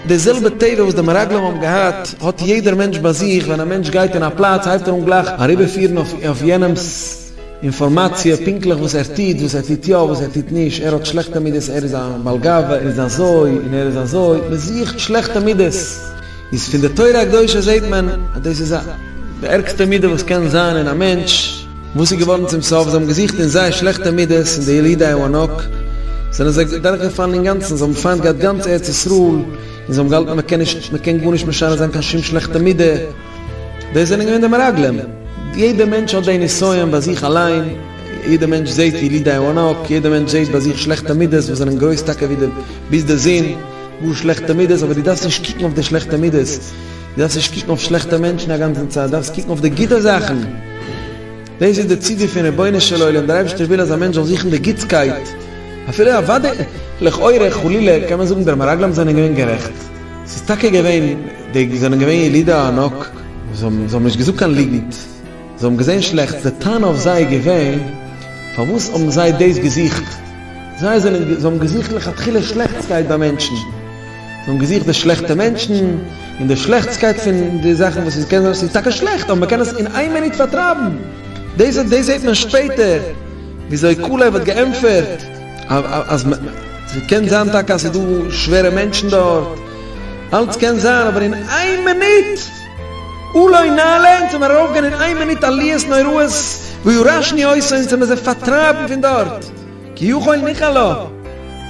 די זעלבע טבע וואס די מרגלים האבן געהאט האט יעדער מענטש ביי זיך, ווען א מענטש גייט אין א פלאץ הייבט ער אן גלייך אריבערפירן אויף יענעמ'ס אינפארמאציע פונקטליך וואס ער טוט, וואס ער טוט יא, וואס ער טוט נישט, ער האט שלעכטע מידות, ער איז א בעל גאווה, ער איז אזוי און ער איז אזוי, מען זוכט שלעכטע מידות. איז פון די תורה הקדושה זעהט מען אז דאס איז א די ערגסטע מידה וואס קען זיין אין א מענטש, וואס איז געווארן צום סוף, זיי האבן געזוכט אין זייער שלעכטע מידות אין די ילידי הענק, זענען זיי דורך געפאלן אינגאנצן, זיי האבן פיינט געהאט גאנץ ארץ ישראל, און זיי האבן געהאלטן מען קען נישט, מען קען גארנישט משנה זיין קיין שום שלעכטע מידה, דאס זענען געווען די מרגלים, יעדע מענטש האט די נסיון ביי זיך אליין, יעדע מענטש זעהט ילידי הענק, יעדע מענטש זעהט ביי זיך שלעכטע מידות וואס זענען גרויס טאקע ווי די ביז די זון, גאר שלעכטע מידות, אבער דו דארפסט נישט קוקן אויף די שלעכטע מידות, דו דארפסט נישט קוקן אויף שלעכטע מענטשן א גאנצן צייט, דו דארפסט קוקן אויף די גוטע זאכן, דאס איז די ציווי פון רבונו של עולם, דער אייבערשטער וויל אז א מענטש זאל זוכן די גוטסקייט, אפילו אוודאי, לכאורה, חלילה, קען מען זאגן די מרגלים זענען געווען גערעכט, ס'איז טאקע געווען, די זענען געווען ילידי הענק, זיי האבן נישט געזאגט קיין ליגנט. זיי האבן געזען שלעכטס, די טענה אויף זיי איז געווען, פארוואס האבן זיי דאס געזוכט? זיי זענען, זיי האבן געזוכט לכתחילה שלעכטסקייט ביי מענטשן, זיי האבן געזוכט די שלעכטע מענטשן, און די שלעכטסקייט פון די זאכן וואס ס'קען זיין אז ס'איז טאקע שלעכט, אבער מ'קען עס אין איין מינוט פארטרייבן. דאס, דאס זעט מען שפעטער, וויאזוי קאלעב האט געענטפערט אז מ, ס'קען זיין טאקע אז ס'איז דא שווערע מענטשן דארט, אלץ קען זיין, אבער אין איין מינוט! אולי נעלה, אונז האבן ארויפגיין אין איין מינוט עליות נוראות, ויורשני עושה אונז האבן זיי פארטרייבן פון דארט, כי יכול ניחלה,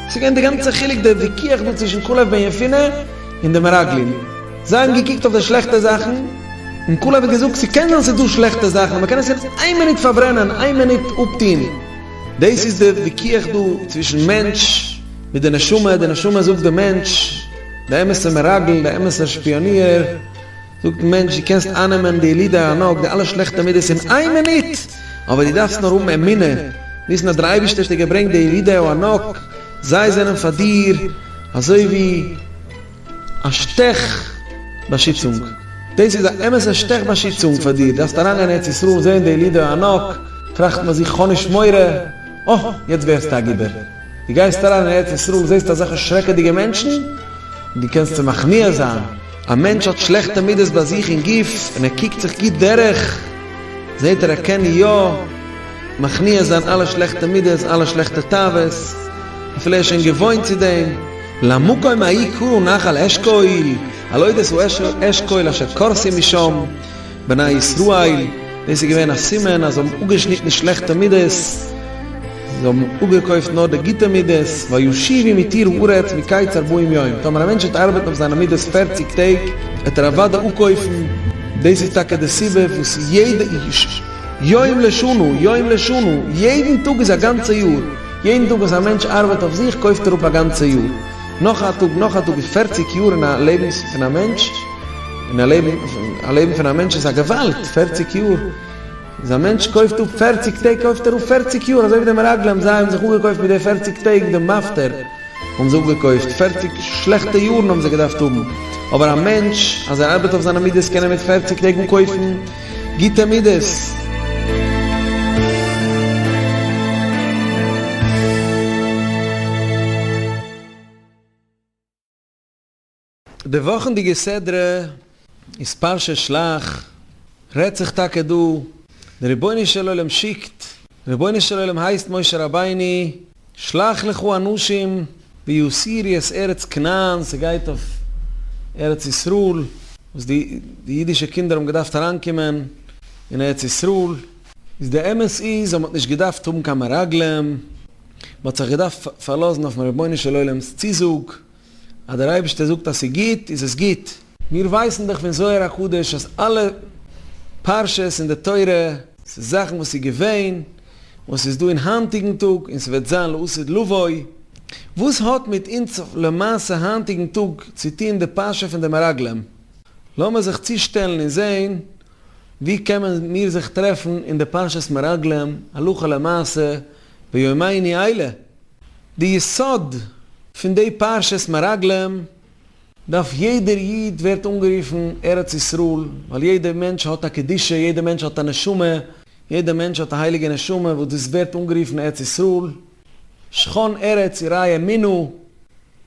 דאס איז געווען די גאנצע חילוק די וויכוח דא צווישן כלב בן יפונה און די מרגלים, זיי האבן געקוקט אויף די שלעכטע זאכן, און כלב האט געזאגט ס'קען זיין ס'איז דא שלעכטע זאכן אבער מ'קען עס אין איין מינוט פארברענען אין איין מינוט אפטוהן, דאס איז די וויכוח דא צווישן מענטש מיט די נשמה, די נשמה זאגט די מענטש. די אמת'ע מרגל, די אמת'ע שפיאניער, זאגט דעם מענטש, דו קענסט אייננעמען די ילידי הענק, די אלע שלעכטע מידות אין איין מינוט! אבער דו דארפסט נאר האבן אמונה, וויסן אז דער אייבערשטער האט דיר געברענגט די ילידי הענק, זיי זענען פאר דיר אזוי ווי א שטעך באשיצונג, דאס איז א אמת'ע שטעך באשיצונג פאר דיר, דארפסט אריינגיין אין ארץ ישראל און זען די ילידי הענק, טראכט מען זיך, כ'האב נישט מורא, אה, יעצט ווערסטו א גיבור. דו גייסט אריין אין ארץ ישראל און זעסט אזעלכע שרעקעדיגע מענטשן, דו קענסט צו מכניע זיין, א מענטש האט שלעכטע מידות ביי זיך אין גוף און ער קוקט זיך גוט דורך, זעט ער ער קען יא מכניע זיין אלע שלעכטע מידות, אלע שלעכטע תאוות, אפילו ער איז שוין געוואוינט צו דעם. למקום ההיא קראו נחל אשכול, הלא דאס הוא אשכול אשר קורסים משם. בני ישראל, דאס איז געווען א סימן אז זיי האבן אפגעשניטן שלעכטע מידות, זיי האבן אפגעקויפט נאר די גוטע מידות, וישיבי מתיר הארץ מקץ ארבעים יום, טאמער א מענטש וועט ארבעטן אויף זיינע מידות פערציג טעג, וועט ער אוודאי אפקויפן, דאס איז טאקע די סיבה וואס יעדע איש, יום לשנה, יום לשנה, יעדן טאג איז א גאנצע יאר, יעדן טאג וואס א מענטש ארבעט אויף זיך קויפט ער אפ א גאנצע יאר, נאך א טאג, נאך א טאג איז פערציג יאר אין א לעבנס פון א מענטש, און א לעבן, א לעבן פון א מענטש איז א געוואלד! פערציג יאר! איז א מענטש קויפט אפ פערציג טעג קויפט ער אפ פערציג יאר! אזוי ווי די מרגלים זיי האבן זיך אפגעקויפט מיט די פערציג טעג די מפטר האבן זיי אפגעקויפט פערציג שלעכטע יארן האבן זיי געדארפט האבן אבער א מענטש אז ער ארבעט אויף זיינע מידות קען ער מיט פערציג טעג אנקויפן גוטע מידות! די וואכענדיגע סדרה איז פרשת שלח, רעדט זיך טאקע דא, די רבונו של עולם שיקט, רבונו של עולם הייסט משה רבינו, שלח לך אנשים ויסירי את ארץ כנען, ס'גייט אויף ארץ ישראל, וואס די די אידישע קינדער האבן געדארפט אריינקומען אין ארץ ישראל, איז די אמת איז אז מען האט נישט געדארפט האבן קיין מרגלים, מען האט זיך געדארפט פארלאזן אויפן רבונו של עולם'ס צוזאג, אז דער אייבערשטער זאגט אז ס'איז גוט איז עס גוט. מיר ווייסן דאך פון זוהר הקדוש אז אלע פרשות אין די תורה. ס'איז זאכן וואס איז געווען, וואס איז דא אין היינטיגן טאג און ס'וועט זיין לעתיד לבוא. וואס האט מיט אונז למעשה היינטיגן טאג צו טון די פרשה פון די מרגלים? לאמיר זיך צושטעלן און זען וואו קענען מיר זיך טרעפן אין די פרשת מרגלים הלכה למעשה ביומייני אלה. די יסוד פון די פרשת מרגלים דארף יעדער איד ווערט אנגערופן ארץ ישראל ווייל יעדער מענטש האט א קדושה יעדער מענטש האט א נשמה יעדער מענטש האט א הייליגע נשמה וואס דאס ווערט אנגערופן ארץ ישראל שכון ארץ עירי אמונה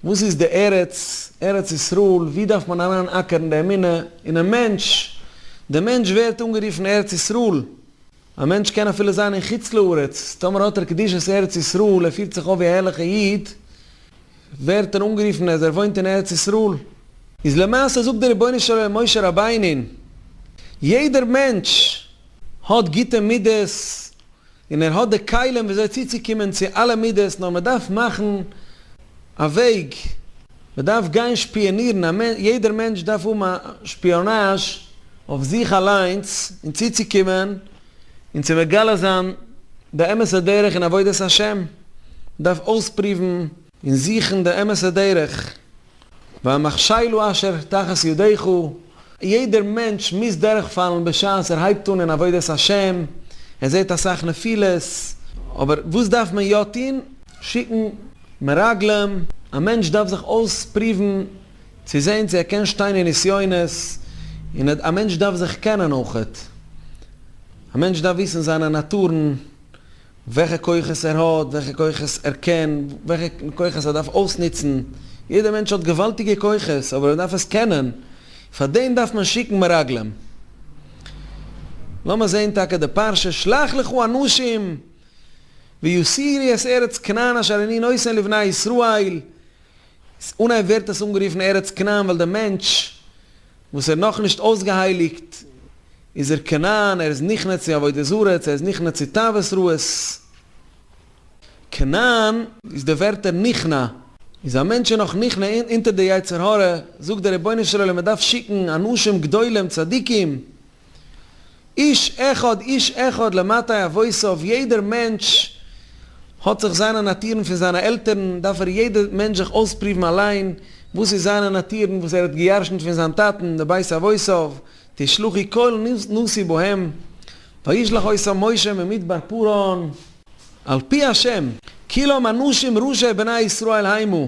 וואס איז די ארץ ארץ ישראל ווי דארף מען אריין אקערן די אמונה אינעם מענטש די מענטש ווערט אנגערופן ארץ ישראל. א מענטש קען אפילו זיין אין חוץ לארץ, טאמער האט ער קדושת ארץ ישראל, ער פירט זיך אויף ווי א ערליכע איד, ווערט ער אנגערופן אז ער וואוינט אין ארץ ישראל. איז למעשה זאגט דער רבונו של עולם משה רבינו'ן, יעדער מענטש האט גוטע מידות, און ער האט די כלים ווי אזוי צוצוקומען צו אלע מידות, נאר מען דארף מאכן א וועג, מען דארף גיין שפיאנירן, א מענ, יעדער מענטש דארף האבן א שפיאנאזש אויף זיך אליינס, און צוצוקומען און צו מגלה זיין די אמת'ע דרך אין עבודת השם, מען דארף אויספריוון, און זוכן די אמת'ע דרך, והמכשילו אשר תחת ידיך, יעדער מענטש מוז דורכפאלן בשעת ער הייבט אן אין עבודת השם, ער זעט אסאך נפילות, אבער וואס דארף מען יא טון? שיקן מרגלים, א מענטש דארף זיך אויספריוון צו זען צו ער קען שטיין אין נסיונות, און א מענטש דארף זיך קענען אויך, א מענטש דארף וויסן זיינע נאטורן, וועלכע כוחות ער האט, וועלכע כוחות ער קען, וועלכע כוחות ער דארף אויסנוצן, יעדער מענטש האט געוואלדיגע כוחות אבער ער דארף עס קענען, פאר דעם דארף מען שיקן מרגלים. לאמיר זען טאקע די פרשה, שלח לך אנשים ויסירי את ארץ כנען אשר אני נותן לבני ישראל, אנהייב ווערט עס אנגערופן ארץ כנען ווייל דער מענטש וואס ער נאך נישט אויסגעהייליגט איז ער כנען ער איז נכנע צו עבודה זרה צו ער איז נכנע צו תאוות רעות כנען איז די ווערטער נכנע איז א מענטש איז נאך נכנע אונטער די יצר הרע זאגט דער רבונו של עולם ער דארף שיקן אנשים גדולים צדיקים איש אחד איש אחד למטה אבותיו, יעדער מענטש האט זיך זיינע נאטורן פון זיינע עלטערן, דארף ער יעדער מענטש זיך אויספרובן אליין וואס איז זיינע נאטורן וואס ער האט געירשנט פון זיין טאטן די בית אבותיו, תשלחי כל נשיא בהם, וישלח אותם משה ממדבר פרעון. על פי השם. כלם אנשים ראשי בני ישראל היימו.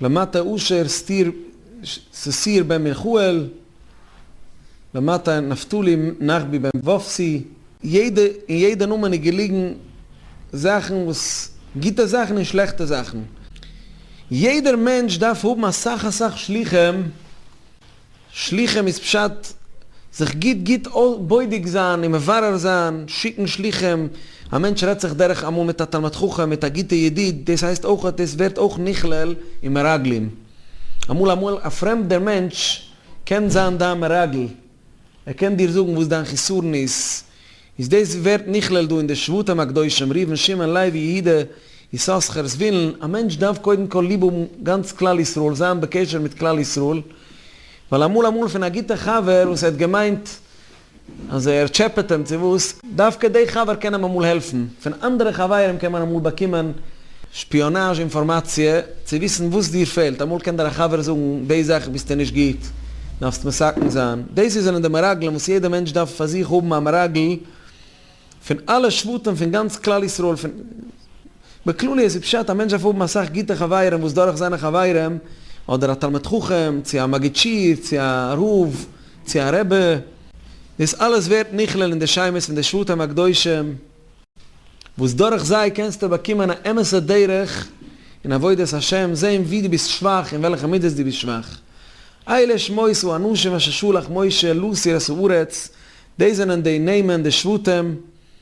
למטה אשר סטיר ססיר בן מיכאל, למטה נפתלי נחבי בן וופסי, יעדע אין יעדע נאמען איז געליגן זאכן וואס גוטע זאכן און שלעכטע זאכן, יעדער מענטש דארף האבן אסאך אסאך שלוחים. שליחים איז פשט זיך גוט גוט בודק זיין און מברר זיין, שיקן שליחים, א מענטש רעדט זיך דורך אמאל מיט א תלמיד חכם, מיט א גוטע ידיד, דאס הייסט אויך, דאס ווערט אויך נכלל אין מרגלים. אמאל אמאל א פרעמדער מענטש קען זיין דיין מרגל, ער קען דיר זאגן וואס דיין חיסרון איז, איז דאס ווערט נכלל דא אין די שבטים הקדושים, ראובן שמעון לוי יהודה יששכר זבולון, א מענטש דארף קודם כל ליב האבן גאנץ כלל ישראל, זיין בקשר מיט כלל ישראל, ווייל אמאל אמאל פון א גוטע חבר וואס ער האט געמיינט אז ער טשעפעט אים צו וואס, דווקא די חבר קען אים אמאל העלפן, פון אנדערע חברים קען מען אמאל באקומען שפיאנאזש אינפארמאציע, צו וויסן וואס דיר פעלט, אמאל קען דיר א חבר זאגן, די זאך ביסטו נישט גוט, דארפסט מסכן זיין, דאס זענען די מרגלים וואס יעדע מענטש דארף פאר זיך האבן א מרגל, פון אלע שבטים פון גאנץ כלל ישראל, פון בכלליות איז פשט א מענטש דארף האבן אסאך גוטע חברים וואס דורך זיינע חברים, אדער א תלמיד חכם, צו א מגיד שיעור, צו א רב, צו א רבי, דאס אלעס ווערט נכלל אין די שמות פון די שבטים הקדושים. וואס דורך זיי קענסטו באקומען א אמת'ע דרך אין עבודת השם, זען ווי דו ביסט שוואך און וועלכע מידות דו ביסט שוואך. אלה שמות האנשים אשר שלח משה להסיר את הארץ, דאס זענען די נעמען, די שבטים,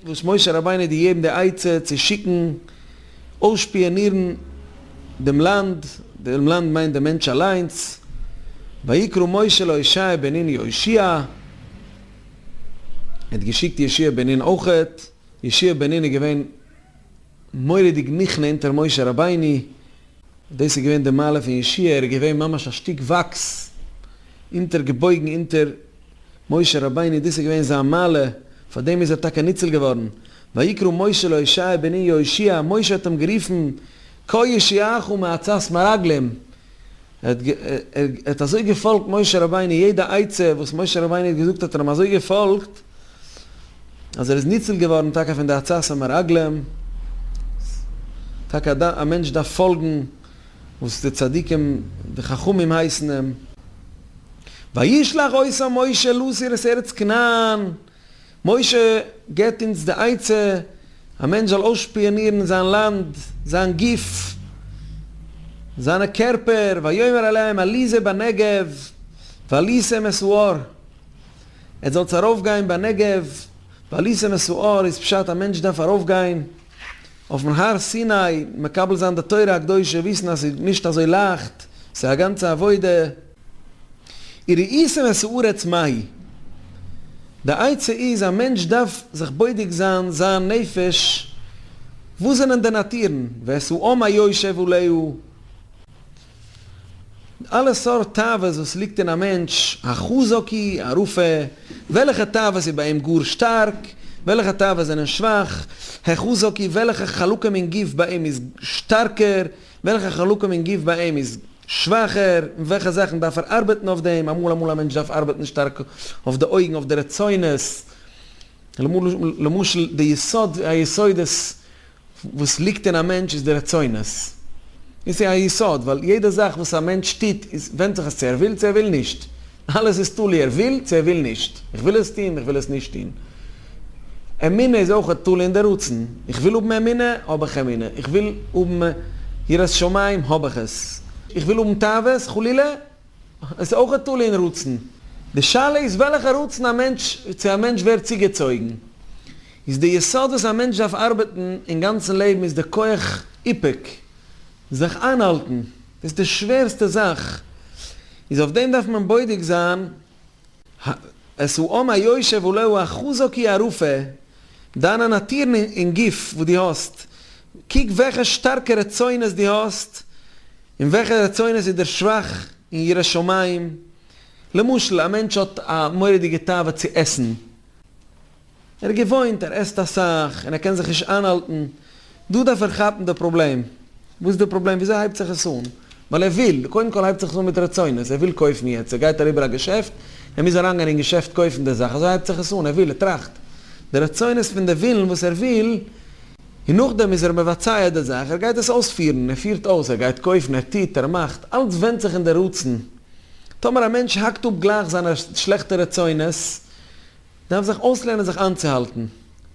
וואס משה רבינו האט געגעבן די עצה צו שיקן אויסשפיאנירן דעם לאנד, דעם לאנד מיינט דעם מענטש אליינס, ויקרא משה להושע בן נון יהושע. ער האט געשיקט ישעי' בן נון אויכעט, ישעי' בן נון איז געווען מורא'דיג נכנע אונטער משה רבינו, דאס איז געווען די מעלה פון ישעי', ער איז געווען ממש א שטיק וואקס, אונטער געבויגן אונטער משה רבינו, דאס איז געווען זיין מעלה, פאר דעם איז ער טאקע ניצול געווארן, ויקרא משה לישעי' בן נון יהושיע, משה האט אים גערופן כה יושיעך מעצת מרגלים, ער האט אזוי געפאלגט משה רבינו, יעדע עצה וואס משה רבינו האט געזאגט האט ער אים אזוי געפאלגט, אז ער איז ניצול געווארן טאקע פון די עצת המרגלים, טאקע א מענטש דארף פאלגן וואס די צדיקים די חכמים הייסן אים, וישלח עשה משה לסיר את ארץ כנען. משה געבט אונז די עצה, א מענטש זאל אויסשפיאנירן זיין לאנד, זיין גוף, זיינע קערפער, ויאמר אליהם עלי זה בנגב ועלי זה מסוער, עטס זאלטס ארויפגיין בנגב, ועלי זה מסוער איז פשט א מענטש דארף ארויפגיין אויפן הר סיני מקבל זיין די תורה הקדושה, וויסן אז ס'איז נישט אזוי לייכט, ס'איז א גאנצע עבודה. איר ראיסן את הארץ מהי? די עצה איז א מענטש דארף זיך בודק זיין זיין נפש וואס זענען די נאטורן ואת האם היושב עליו אלע סארט תאוות וואס ליגט אין א מענטש החזק היא הרופא וועלכע תאוות איז ביי אים גאר שטארק וועלכע תאוות זענען שוואך החזק היא וועלכע חלקים אין גוף ביי אים איז שטארקער וועלכע חלקים אין גוף ביי אים איז שוואכער, און וועלכע זאכן דארף ער ארבעטן אויף דעם, אמאל אמאל א מענטש דארף ארבעטן שטארק אויף די אויגן אויף די רצונות, למשל די יסוד היסודות וואס ליגט אין א מענטש איז די רצונות, דאס איז א יסוד, ווייל יעדע זאך וואס א מענטש טוט איז ווענדט זיך עס צו ער וויל צו ער וויל נישט. אלעס איז תלוי ער וויל צו ער וויל נישט, איך וויל עס טוהן, איך וויל עס נישט טוהן. אמונה איז אויך תלוי אין די רצון, איך וויל האבן אמונה, האב איך אמונה, איך וויל האבן יראת שמים, האב איך עס, איך וויל האבן תאוות חלילה, עס איז אויך תלוי אין רצון. די שאלה איז וועלכע רצון א מענטש, צו א מענטש ווערט צוגעצויגן. איז די יסוד וואס א מענטש דארף ארבעטן אין גאנצן לעבן איז די כח איפוק. זיך איינהאלטן איז די שווערסטע זאך, איז אויף דעם דארף מען בודק זיין את האם היושב הלא הוא החזק היא הרופא, דיינע נאטורן אין גוף וואס דו האסט, קוק וועלכע שטארקע רצונות דו האסט, און וועלכע רצונות איז דער שוואך אין יראת שמים, למשל א מענטש האט א מורא'דיגע תאווה צו עסן, ער איז געוואוינט, ער עסט אסאך, און ער קען זיך נישט איינהאלטן. דא דארף ער כאפן די פראבלעם. וואס איז די פראבלעם? וויאזוי הייבט זיך עס אן? ווייל ער וויל. קודם כל הייבט זיך עס אן מיט רצונות. ער וויל קויפן יעצט. ער גייט אריבער א געשעפט. ער מוז אריינגיין אין געשעפט קויפן די זאך. אזוי הייבט זיך עס אן. ער וויל. ער טראכט די רצונות פון די ווילן וואס ער וויל. און נאכדעם איז ער מבצע די זאך. ער גייט עס אויספירן. ער פירט אויס. ער גייט קויפן. ער טוט. ער מאכט. אלץ ווענדט זיך אין די רצון. טאמער א מענטש האקט אפ גלייך זיינע שלעכטע רצונות, דארף זיך אויסלערנען זיך איינצוהאלטן.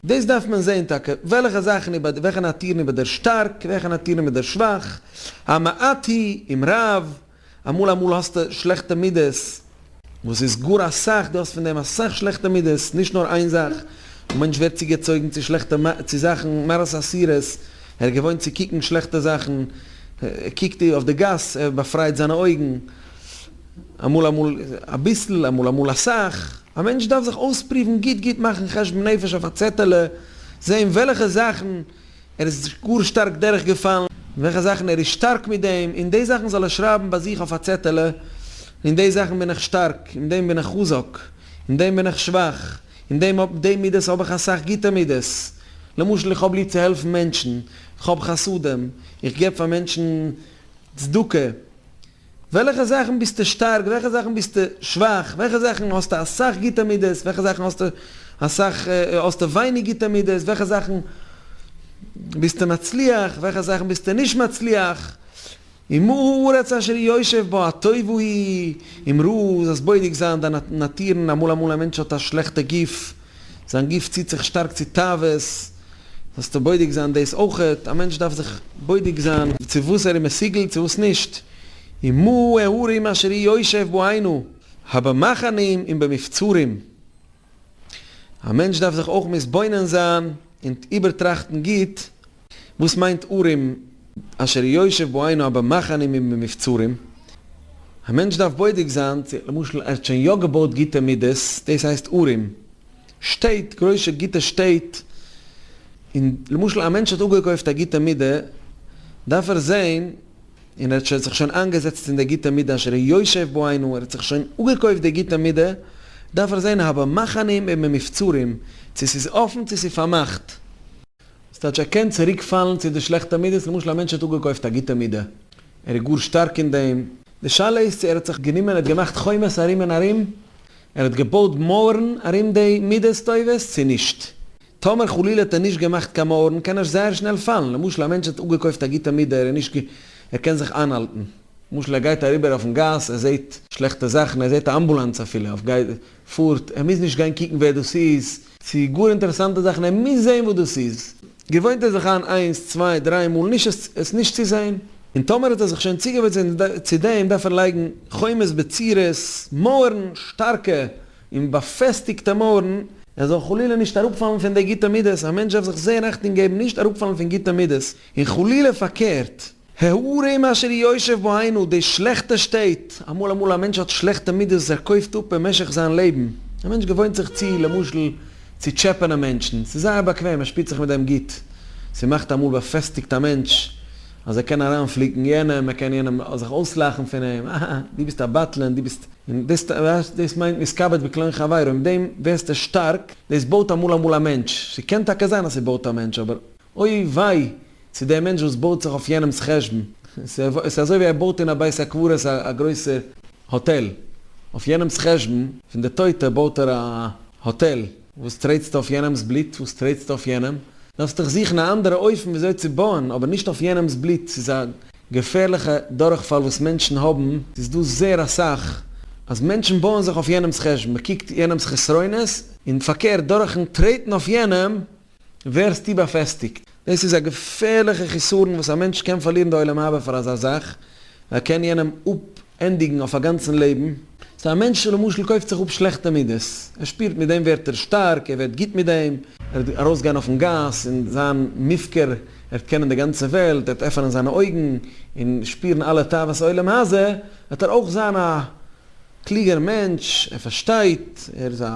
דאס דארף מען זעהן טאקע, וועלכע זאכן איבער, וועלכע נאטורן איבער דער שטארק, וועלכע נאטורן איבער דער שוואך, המעט היא עם רב, אמאל אמאל האסטו שלעכטע מידות, וואס איז גאר אסאך, דו האסט פון דעם אסאך שלעכטע מידות, נישט נאר איין זאך, א מענטש ווערט צוגעצויגן צו שלעכטע, צו זאכן, מראות אסירות, ער איז געוואוינט צו קוקן שלעכטע זאכן, ער קוקט אויף די גאס, ער באפרייט זיינע אויגן. אמאל אמאל אביסל אמאל אמאל אסאך, א מענטש דארף זיך אויספריוון גוט גוט מאכן חשבון נפש אויף א צעטעלע, זעהן וועלעכע זאכן ער איז גאר שטארק דורך געפאלן, וועלכע זאכן ער איז שטארק מיט דעם, און די זאכן זאל ער שרייבן ביי זיך אויף א צעטעלע, אין די זאכן בין איך שטארק, אין דעם בין איך חזק, אין דעם בין איך שוואך, אין דעם האב די מידות האב איך אסאך גוטע מידות, למשל איך האב ליב צו העלפן מענטשן, איך האב חסדים, איך געב פאר מענטשן צדקה, וועלכע זאכן ביסטו שטארק, וועלכע זאכן ביסטו שוואך, וועלכע זאכן האסטו אסאך גוטע מידות, וועלכע זאכן האסטו אסאך, האסטו ווייניג גוטע מידות, וועלכע זאכן ביסטו מצליח, וועלכע זאכן ביסטו נישט מצליח, און מה הארץ אשר ישב בה הטוב ההיא, און ראה אז בודק זיין דיין נאטורן, אמאל אמאל א מענטש האט א שלעכטע גוף, זיין גוף ציט זיך שטארק צו תאוות, זאלסטו בודק זיין דאס אויכעט, א מענטש דארף זיך בודק זיין צו וואס ער איז מסוגל צו וואס נישט, און מהו הערים אשר אי יושב בו היינו, ה במחנים און במבצרים, א מענטש דארף זיך אויך מתבונן זיין און איבערטראכטן גוט, וואס מיינט ארם אשר יושב בו היינו במחנים ובמבצרים? א מענטש דארף בודק זיין צו למשל ער האט שוין יא געבויט גוטע מידות, דאס הייסט ארם, שטעט, גרויסע גוטע שטעט, און למשל א מענטש האט אפגעקויפט א גוטע מידה, דארף ער זען, און ער האט זיך שוין איינגעזעצט אין די גוטע מידה אשר יושב בו היינו, ער האט זיך שוין אפגעקויפט די גוטע מידה, דארף ער זען הא במחנים ובמבצרים, צו ס'איז אפן צו ס'איז פארמאכט. ס'טייטש ער קען צוריק פאלן צו די שלעכטע מידות, למשל א מענטש האט אפגעקויפט א גוטע מידה, ער איז גאר שטארק אין דעם, די שאלה איז צו ער האט זיך גענומען ער האט געמאכט חומות ארום און ארום, ער האט געבויט מויערן ארום די מידות טובות צו נישט, טאמער חלילה האט ער נישט געמאכט קיין מויערן קען ער זייער שנעל פאלן, למשל א מענטש האט אפגעקויפט א גוטע מידה, ער איז נישט ער קען זיך איינהאלטן, למשל ער גייט אריבער אויפן גאס ער זעט שלעכטע זאכן, ער זעט א אמבולאנס אפילו, פארט, ער מוז נישט גיין קוקן ווער דאס איז. צו גאר אינטערעסאנטע זאכן, ער מוז זען וואס דאס איז. געוואוינט ער זיך איין איינס, צוויי, דריי מאל נישט עס נישט צו זען, און טאמער האט ער זיך שוין צוגעוואוינט צו דעם, דארף ער לייגן חומות בצירות, מויערן, שטארקע און באפעסטיגטע מויערן, ער זאל חלילה נישט אראפפאלן פון די גוטע מידות, א מענטש דארף זיך זען אכטונג געבן נישט אראפפאלן פון גוטע מידות, און חלילה פארקערט. הערה עם אשר ישב בו היינו די שלעכטע שטעט, אמאל אמאל א מענטש האט שלעכטע מידות ער קויפט אפ במשך זיין לעבן, א מענטש געוואוינט זיך צו למשל צו טשעפענען מענטשן, ס'איז זייער באקוועם ער שפירט זיך מיט דעם גוט, ס'מאכט אמאל באפעסטיגט א מענטש אז ער קען אריינפליקן יענעם, ער קען יענעם זיך אויסלאכן פון אים, אההה דו ביסט א בטלן, דו ביסט, און דאס ווייסט דאס מיינט מתכבד בקלון חברו, מיט דעם ווערסטו שטארק, דאס בויט אמאל אמאל א מענטש, ס'קען טאקע זיין אז ס'בויט א מענטש אבער. אוי וויי צו דער מענטש וואס בויט זיך אויף יענעמס חשבון, עס איז אזוי ווי ער בויט אין א בית הקברות א גרויסע האטעל, אויף יענעמס חשבון פון די טויטע בויט ער א האטעל, וואס טרעטסטו אויף יענעמס בלוט, וואס טרעטסטו אויף יענעם, דארפסט דיך זוכן א אנדערע אופן ווי אזוי צו בויען, אבער נישט אויף יענעמס בלוט, ס'איז א געפערליכע דורכפאל וואס מענטשן האבן, ס'איז דא זעהר אסאך אז מענטשן בויען זיך אויף יענעמס חשבון, מען קוקט יענעמס חסרונות, און פארקערט דורכן טרעטן אויף יענעם ווערסטו באפעסטיגט. דאס איז א געפערליכע חיסרון וואס א מענטש קען פארלירן די עולם הבא פאר אזא זאך, ער קען יענעם אפענדיגן אויף א גאנצן לעבן. סא א מענטש למשל קויפט זיך אפ שלעכטע מידות, ער שפירט מיט דעם ווערט ער שטארק, ער ווערט גוט מיט דעם, ער וועט ארויסגיין אויפן גאס און זיין מופקר, ער וועט קענען די גאנצע וועלט, ער וועט עפענען זיינע אויגן און שפירן אלע תאוות עולם הזה, וועט ער אויך זיין א. קלוגער מענטש, ער פארשטייט, ער איז א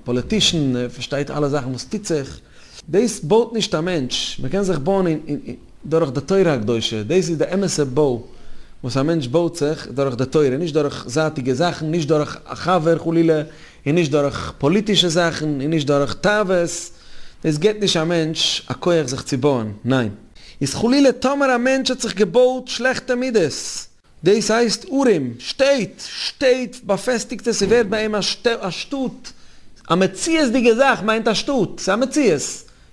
פאליטישן, ער פארשטייט אלע זאכן וואס טוט זיך. דאס בויט נישט א מענטש, מען קען זיך בויען דורך די תורה הקדושה, דאס איז די אמת'ע בוי וואס א מענטש בויט זיך, דורך די תורה, נישט דורך זייטיגע זאכן, נישט דורך א חבר חלילה, און נישט דורך פאליטישע זאכן, און נישט דורך תאוות, דאס געבט נישט א מענטש א כח זיך צו בויען, ניין. איז חלילה טאמער א מענטש האט זיך געבויט שלעכטע מידות. דאס הייסט ארום, שטעט, שטעט, באפעסטיגטע, ס'ווערט ביי אים א שטאט, א מציאות'דיגע זאך מיינט א שטאט, ס'איז א מציאות,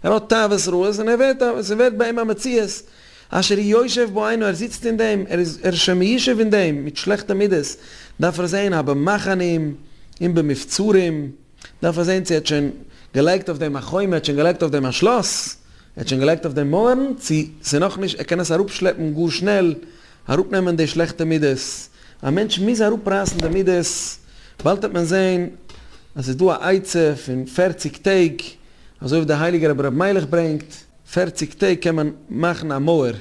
ער האט תאוות רעות און ער ווערט א, ס'ווערט ביי אים א מציאות, אשר היא יושב בה היינו ער זיצט אין דעם, ער איז, ער איז שוין מישב אין דעם, מיט שלעכטע מידות, דארף ער זען א במחנים און במבצרים, דארף ער זען צו ער האט שוין געלייגט אויף דעם א חומה, ער האט שוין געלייגט אויף דעם א שלאס, ער האט שוין געלייגט אויף דעם מויערן, צו ס'איז נאכנישט, ער קען עס אראפשלעפן גאר שנעל, אראפנעמען די שלעכטע מידות, א מענטש מוז אראפרייסן די מידות, באלד העט מען זען אז ס'איז דא א עצה פון פֿערציק טעג, אזוי ווי דער הייליגער רבי ר' מיילעך ברענגט, פֿערציק טעג קען מען מאכן א מויער,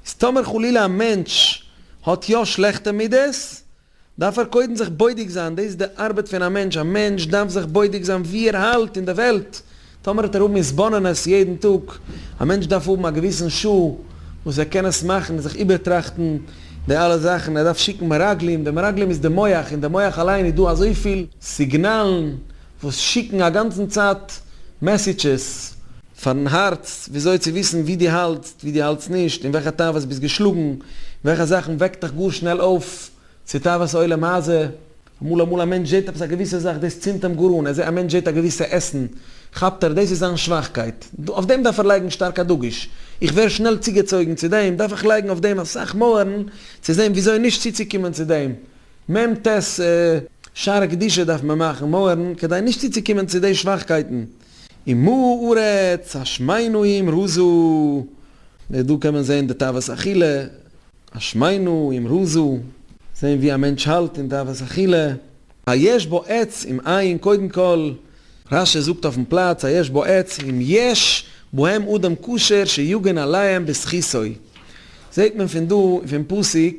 איז טאמער חלילה א מענטש האט יא שלעכטע מידות, דארף ער קודם זיך בודק זיין, דאס איז די ארבעט פון א מענטש, א מענטש דארף זיך בודק זיין ווי ער האלט אין די וועלט, טאמער האט ער האבן התבוננות יעדן טאג, א מענטש דארף האבן א געוויסן שעה וואס ער קען עס מאכן און זיך איבערטראכטן די אלע זאכן, ער דארף שיקן מרגלים, די מרגלים איז די מח, אין די מח אליין איז דא אזויפיל סיגנאלן וואס שיקן א גאנצן צייט מעסיטשעס. פארן הארץ, וויאזוי צו וויסן ווי דו האלטסט, ווי דו האלטסט נישט, אין וועלכע תאוות ביסט געשלאגן, וועלכע זאכן וועקט דיך גאר שנעל אויף צו תאוות עולם הזה. אמאל אמאל א מענטש זעט עפעס א געוויסע זאך, דאס צינדט אים גאר אן, א מענטש זעט א געוויסע עסן, כאפט ער, דאס איז זיין שוואכקייט, אויף דעם דארף ער לייגן שטארק א דגוש, איך ווער שנעל צוגעצויגן צו דעם, דארף איך לייגן אויף דעם אסאך מויערן צו זען וויאזוי נישט צוצוקומען צו דעם, מ ט שערי קדושה דארף מען מאכן מויערן כדי נישט צוצוקומען צו די שוואכקייטן. און מלאה ארץ השמינא עם רזא, און דא קען מען זעהן די תאוות אכילה, השמינא עם רזא, זעהן ווי א מענטש האלט אין תאוות אכילה. היש בו עץ עם עין, קודם כל רש י זאגט אויפן פלאץ היש בו עץ עם יש בהם אדם כשר שיגן עליהם בזכותו, זעהט מען פון דא פון פסוק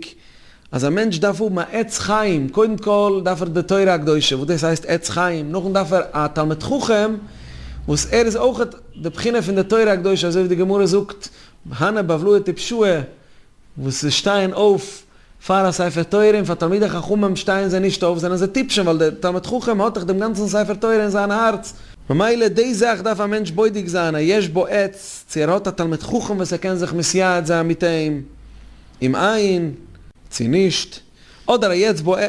אז א מענטש דארף האבן א עץ חיים, קודם כל דארף ער די תורה הקדושה, וואס דאס הייסט עץ חיים, נאכדעם דארף ער א תלמיד חכם, וואס ער איז אויך די בחינה פון די תורה הקדושה, אזוי ווי די גמרא זאגט, הנה בבלוה טיפשוה, וואס זיי שטייען אויף פאר א ספר תורה, און פאר תלמידי חכמים שטייען זיי נישט אויף, זענען זיי טיפשים, ווייל דער תלמיד חכם האט דאך דעם גאנצן ספר תורה אין זיין הארץ, ממילא די זאך דארף א מענטש בודק זיין, היש בו עץ, צו ער האט א תלמיד חכם וואס ער קען זיך מסייעץ זיין מיט אים. אים איין צו נישט, אדער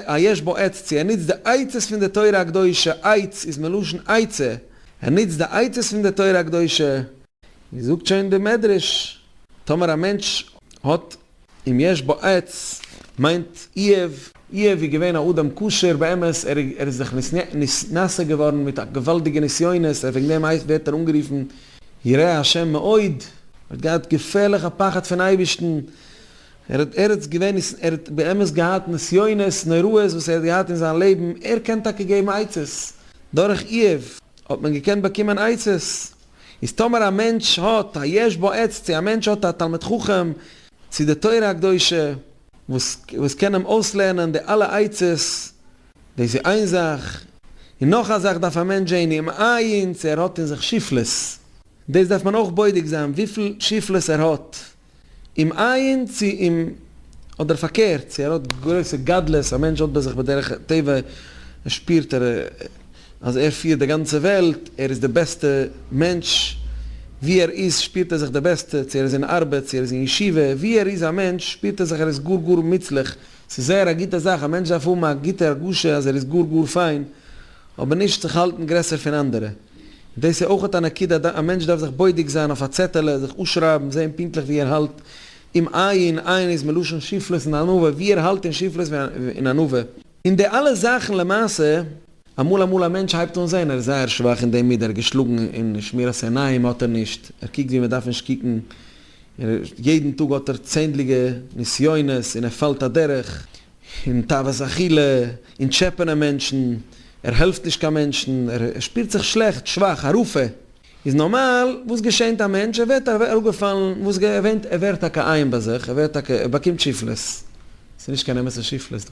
א יש בו עץ צו ער נוצט די עצות פון די תורה הקדושה, עץ איז מלשון עצה, ער נוצט די עצות פון די תורה הקדושה, ווי זאגט שוין די מדרש, טאמער א מענטש האט אים יש בו עץ, מיינט איוב, איוב איז געווען א אדם כשר באמת, ער איז זיך נשא געווארן מיט א געוואלדיגע נסיונות, און וועגן דעם ווערט ער אנגערופן. ירא השם מאוד, ער האט געהאט געפערליך א פחד פון אייבערשטן, ער האט ערעץ געווען, ער האט באמת געהאט נסיונות נוראות וואס ער האט געהאט אין זיין לעבן, ער קען טאקע געבן עצות, דורך איוב האט מען געקענט באקומען עצות, איז טאמער א מענטש האט א יש בו עץ צו א מענטש האט א תלמיד חכם צו די תורה הקדושה וואס קען אים אויסלערנען די אלע עצות, דאס איז איין זאך. און נאך א זאך דארף א מענטש זען אים אייינס ער האט אין זיך שפלות. דאס דארף מען אויך בודק זיין וויפיל שפלות ער האט אים אייינס צו אים אדער פארקערט צו ער האט גרויסע גדלות, א מענטש האט ביי זיך בדרך טבע שפירט ער אז ער פירט די גאנצע וועלט, ער איז די בעסטע מענטש, ווי ער איז שפירט ער זיך די בעסטע, צו ער איז אין ארבעט, צו ער איז אין ישיבה, ווי ער איז א מענטש שפירט ער זיך ער איז גאר גאר מוצלח. ס'איז זייער א גוטע זאך, א מענטש דארף האבן א גוטע הרגשה אז ער איז גאר גאר פיין, אבער נישט זיך האלטן גרעסער פון אנדערע. און דאס איז אויכעט א נקודה, א מענטש דארף זיך בודק זיין אויף א צעטעלע, זיך אפשרייבן, זען פונקטליך ווי ער האלט, אם עיין, עיין איז מלשון שפלות און ענווה, ווי ער האלט אין שפלות און ענווה. און די אלע זאכן למעשה, אמאל אמאל א מענטש הייבט אן זען ער איז זייער שוואך אין דעם מידה, ער איז געשלאגן אין שמירת עיניים האט ער נישט, ער קוקט ווי מען דארף נישט קוקן, און יעדן טאג האט ער צענדליגע נסיונות און ער פאלט אדורך אין תאוות אכילה, אין טשעפענען מענטשן, ער העלפט נישט קיין מענטשן, ער שפירט זיך שלעכט, שוואך, א רופא. איז נארמאל וואס געשענט א מענטש, ער ווערט אראפגעפאלן, וואס געווענט, ער ווערט טאקע עיין ביי זיך, ער ווערט טאקע, ער באקומט שפלות, ס'איז נישט קיין אמת'ע שפלות דא.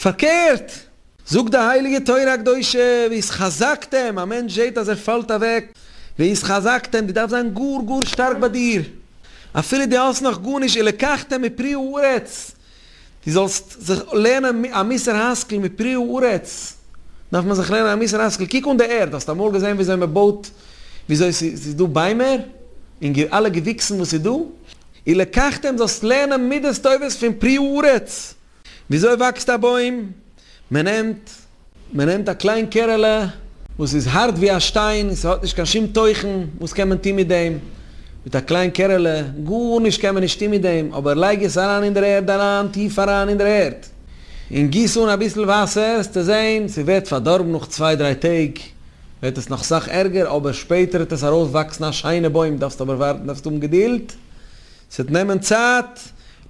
פארקערט! זאגט די הייליגע תורה הקדושה, והתחזקתם, א מענטש זעט אז ער פאלט אוועק, והתחזקתם, דו דארפסט זיין גאר גאר שטארק ביי דיר, אפילו דו האסט נאך גארנישט, ולקחתם מפרי הארץ, דו זאלסט זיך לערנען א מוסר השכל, מפרי הארץ, דארף מען זיך לערנען א מוסר השכל, קוק אן די ערד, האסט אמאל געזען וויאזוי מען בויט, וויאזוי ס'איז דא ביימער, און אלע געוויקסן וואס איז דא, ולקחתם, זאלסט לערנען מידות טובות פון פרי הארץ, וויאזוי וואקסט א בוים? מען נעמט מען נעמט א קליין קערעלע וואס איז הארט ווי א שטיין און ס'האט נישט קיין שום תוכן, וואס קען מען טון מיט דעם? מיט א קליין קערעלע? גארנישט קען מען נישט טון מיט דעם, אבער לייג עס אריין אין דער ערד אריין, טיף אריין אין דער ערד, און גיס אן אביסל וואסער, העסטו זען ס'ווערט פארדארבן נאך צוויי דריי טעג ווערט עס נאך סאך ערגער, אבער שפעטער וועט עס ארויסוואקסן א שיינע בוים, דארפסט אבער ווארטן, דארפסט האבן געדולד, ס'וועט נעמען צייט,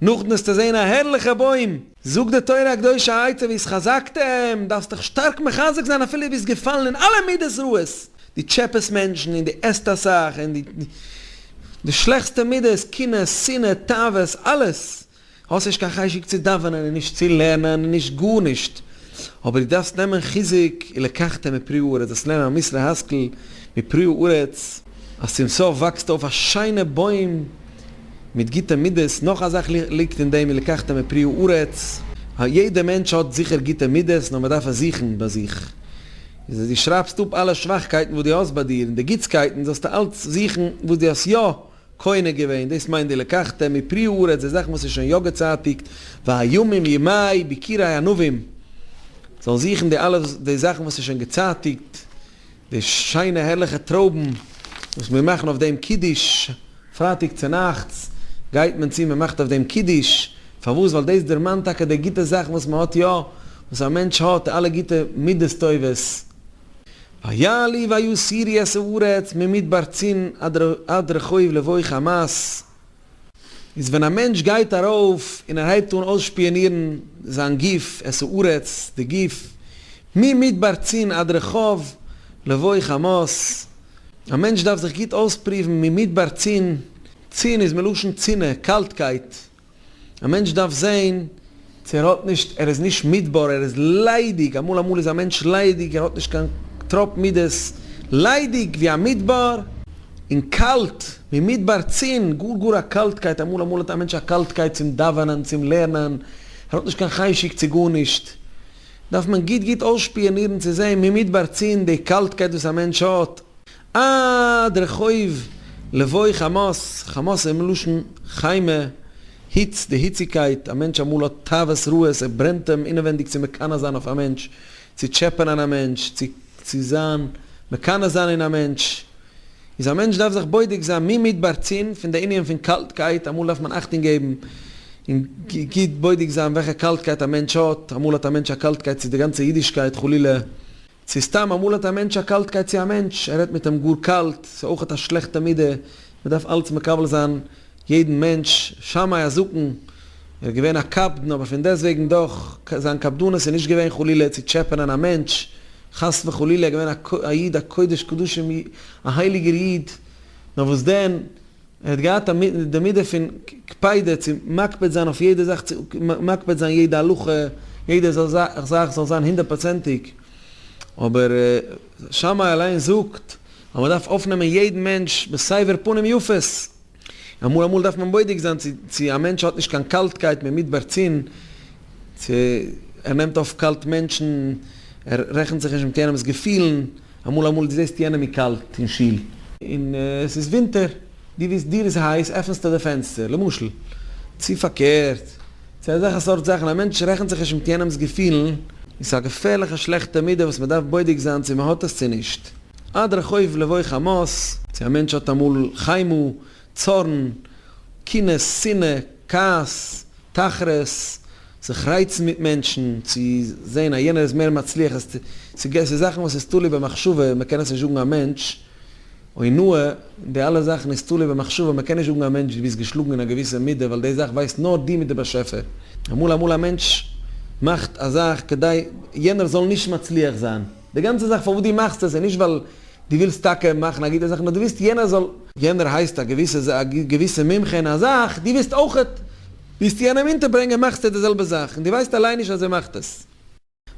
נאכדעם וועסטו זען א הערליכע בוים. זאגט די תורה הקדושה א עצה ווי עס חזק'ט אים, דארפסט דיך שטארק מחזק זיין אפילו דו ביסט געפאלן אין אלע מידות רעות, דו טשעפעסט מענטשן און דו עסט אסאך, און די שלעכסטע מידות, קנאה, שנאה, תאוות, אלעס, האסט נישט קיין חשק צו דאווענען און נישט צו לערנען און נישט גארנישט, אבער דו דארפסט נעמען חיזוק, ולקחת מפרי הארץ, דאס לערנען א מוסר השכל מפרי הארץ. אז צום סוף וואקסט אויף א שיינע בוים מיט גוטע מידות, נאך א זאך ליגט אין דעם, לקחת מפרי הארץ, יעדע מענטש האט זיכער גוטע מידות נאר מען דארף עס זוכן ביי זיך, איז אז דו שרייבסט אפ אלע שוואכקייטן וואס דו האסט ביי דיר און די גוטסקייטן זאלסטו אלץ זוכן וואס דו האסט יא קונה געווען, דאס מיינט די לקחת מפרי הארץ, די זאכן וואס איז שוין יא געצייטיגט, והימים ימי ביכירי ענבים, זאלן זוכן די אלע די זאכן וואס איז שוין געצייטיגט, די שיינע הערליכע טרויבן וואס מיר מאכן אויף דעם קידוש פרייטאג צונאכטס, גייט מען צו מען מאכט אויף דעם קידוש, פארוואס? ווייל דאס דערמאנט טאקע די גוטע זאכן וואס מען האט יא, וואס א מענטש האט, אלע גוטע מידות טובות. והיה לי והיה סירי אעשה ארץ ממדבר צין עד רחוב לבוי חמת. איז ווען א מענטש גייט ארויף און ער הייבט אן אויסשפיאנירן זיין גוף, את הארץ, די גוף, ממדבר צין עד רחוב לבוא חמות, א מענטש דארף זיך גוט אויספריוון ממדבר צין, צין איז מלשון צינע, קאלטקייט, א מענטש דארף זען, צו ער האט נישט, ער איז נישט מידבר, ער איז ליידיג, אמאל אמאל איז א מענטש ליידיג, ער האט נישט קיין טראפ מידות, ליידיג ווי א מידבר, און קאלט ווי מידבר צין, גאר גאר א קאלטקייט, אמאל אמאל האט א מענטש א קאלטקייט צום דאווענען, צום לערנען, ער האט נישט קיין חשק צו גארנישט, דארף מען גוט גוט אויסשפיאנירן צו זען ממדבר צין די קאלטקייט וואס א מענטש האט, אה, דער חוב, לבוי חמס, חמס איז מלשון חיימא, היץ, די היציגקייט, א מענטש אמאל האט תאוות רעות, עס ברענט אים אינעווענדיג צו מקנא זיין אויף א מענטש, צו טשעפענען א מענטש, צו צו זיין מקנא זיין אין א מענטש, איז א מענטש דארף זיך בודק זיין מי מדבר צין פון די ענין פון קאלטקייט, אמאל דארף מען אכטונג געבן און גוט בודק זיין וועלכע קאלטקייט א מענטש האט, אמאל האט א מענטש א קאלטקייט צו די גאנצע אידישקייט חלילה, צו סתם אמאל האט א מענטש א קאלטקייט צו א מענטש, ער רעדט מיט אים גאר קאלט, ס'איז אויכעט א שלעכטע מידה, מ'דארף אלץ מקבל זיין יעדן מענטש, שמאי א זקן, ער איז געווען א קפדן אבער פון דעסט וועגן דאך, זיין קפדנות איז נישט געווען חלילה צו טשעפענען א מענטש, חס וחלילה, ער איז געווען א איד א קודש קדשים א הייליגער איד, נאר וואס דען, ער האט געהאט א מיט די מידה פון קפידה צו מקפיד זיין אויף יעדע זאך צו מקפיד זיין יעדע הלכה יעדע זאך זאל זיין הונדערט פראצענטיג אבער שמאי אליין זאגט אז מען דארף אויפנעמען יעדן מענטש בסבר פנים יפות אמאל אמאל דארף מען בודק זיין צו צו א מענטש האט נישט קיין קאלטקייט ממדבר צין צו ער נעמט אויף קאלט מענטשן ער רעכנט זיך נישט מיט יענעמס געפילן. אמאל אמאל דו זעסט יענעם איז קאלט אין שול. און עס איז ווינטער. דו וויסט דיר איז הייס, עפענסטו די פענסטער, למשל. צו פארקערט. צו אזעלכע סארט זאכן. א מענטש רעכנט זיך נישט מיט יענעמ'ס געפילן. און ס'איז א געפערליכע שלעכטע מידה וואס מ'דארף בודק זיין צו מ'האט עס צו נישט. עד רחוב לבו חמס. צו א מענטש האט אמאל חיימא, צארן, קנאה, שנאה, כעס. תחרות, זיך רייצן מיט מענטשן, צו זען אז יענער איז מער מצליח, עס איז זאכן וואס איז תלוי במחשבה, מען קען עס נישט זאגן א מענטש, אונאה, די אלע זאכן איז תלוי במחשבה, מען קען נישט זאגן א מענטש דו ביסט געשלאגן אין א געוויסע מידה, ווייל די זאך ווייסט נאר דו מיט די באשעפער. אמאל אמאל א מענטש מאכט א זאך כדי יענער זאל נישט מצליח זיין. די גאנצע זאך פארוואס דו מאכסט עס איז נישט ווייל דו ווילסט טאקע מאכן א גוטע זאך נאר דו ווילסט יענער זאל. יענער הייסט א געוויסע זאך, א געוויסע מומחה אין א זאך, דו ווילסט אויכעט, ווילסט יענעם אונטערברענגען מאכסטו די זעלבע זאך, און דו ווייסט אליין נישט אז ער מאכט עס.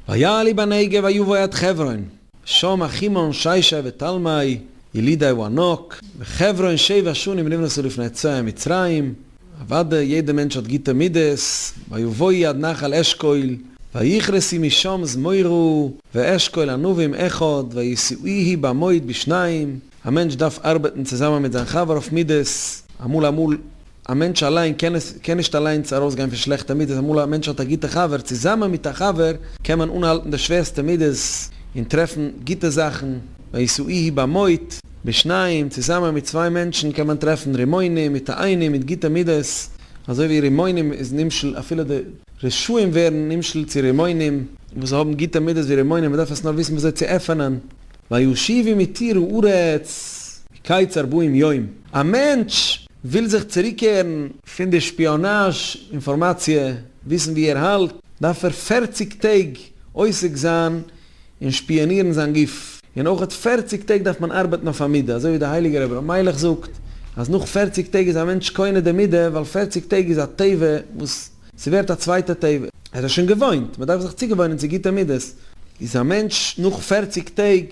ויעלי בנגב ויבוא עד חברון, ושם אחימון שיישא ותלמי ילידי הוא ענק, וחברון שבע שנים נבנתה לפני צאה מצרים, אוודאי יעדע מענטש האט גוטע מידות, ויבואי עד נחל אשכול, ויכרסי משם זמורו, ואשכול ענבים אחד, ויסעוהי במועד בשניים, א מענטש דארף ארבעטן צוזאמען מיט זיין חבר אויף מידות, אמאל אמאל א מענטש אליין קען עס קען נישט אליינס ארויסגיין פון שלעכטע מידות, אמאל א מענטש האט א גוטע חבר, צוזאמען מיט א חבר קען מען אנהאלטן די שווערסטע מידות און טרעפן גוטע זאכן, ויסעוהי במועד. בשניים, צוזאמען מיט צוויי מענטשן קען מען טרעפן רימונים, מתאינים מיט גוטע מידות, אזוי ווי רימונים איז נמשל, אפילו די רשעים ווערן נמשל צו רימונים וואס האבן גוטע מידות ווי רימונים, מען דארף עס נאר וויסן ווי אזוי צו עפענען. וישיבי מתיר הארץ קיץ ארבעים יום, א מענטש וויל זיך צוריקקערן פון די שפיאנאזש אינפארמאציע, וויסן ווי ער האלט, דארף ער פערציג טעג עוסק זיין און שפיאנירן זיין גוף. און אויך אט פערציג טעג דארף מען ארבעטן אויף א מידה, אזוי ווי דער הייליגער אברהם מיילעך זאגט, אז נאך פערציג טעג איז א מענטש קונה די מידה, ווייל פערציג טעג איז א טבע וואס ס'ווערט א צווייטע טבע, ער איז שוין געוואוינט, מען דארף זיך צוגעוואוינען צו גוטע מידות. איז א מענטש נאך פערציג טעג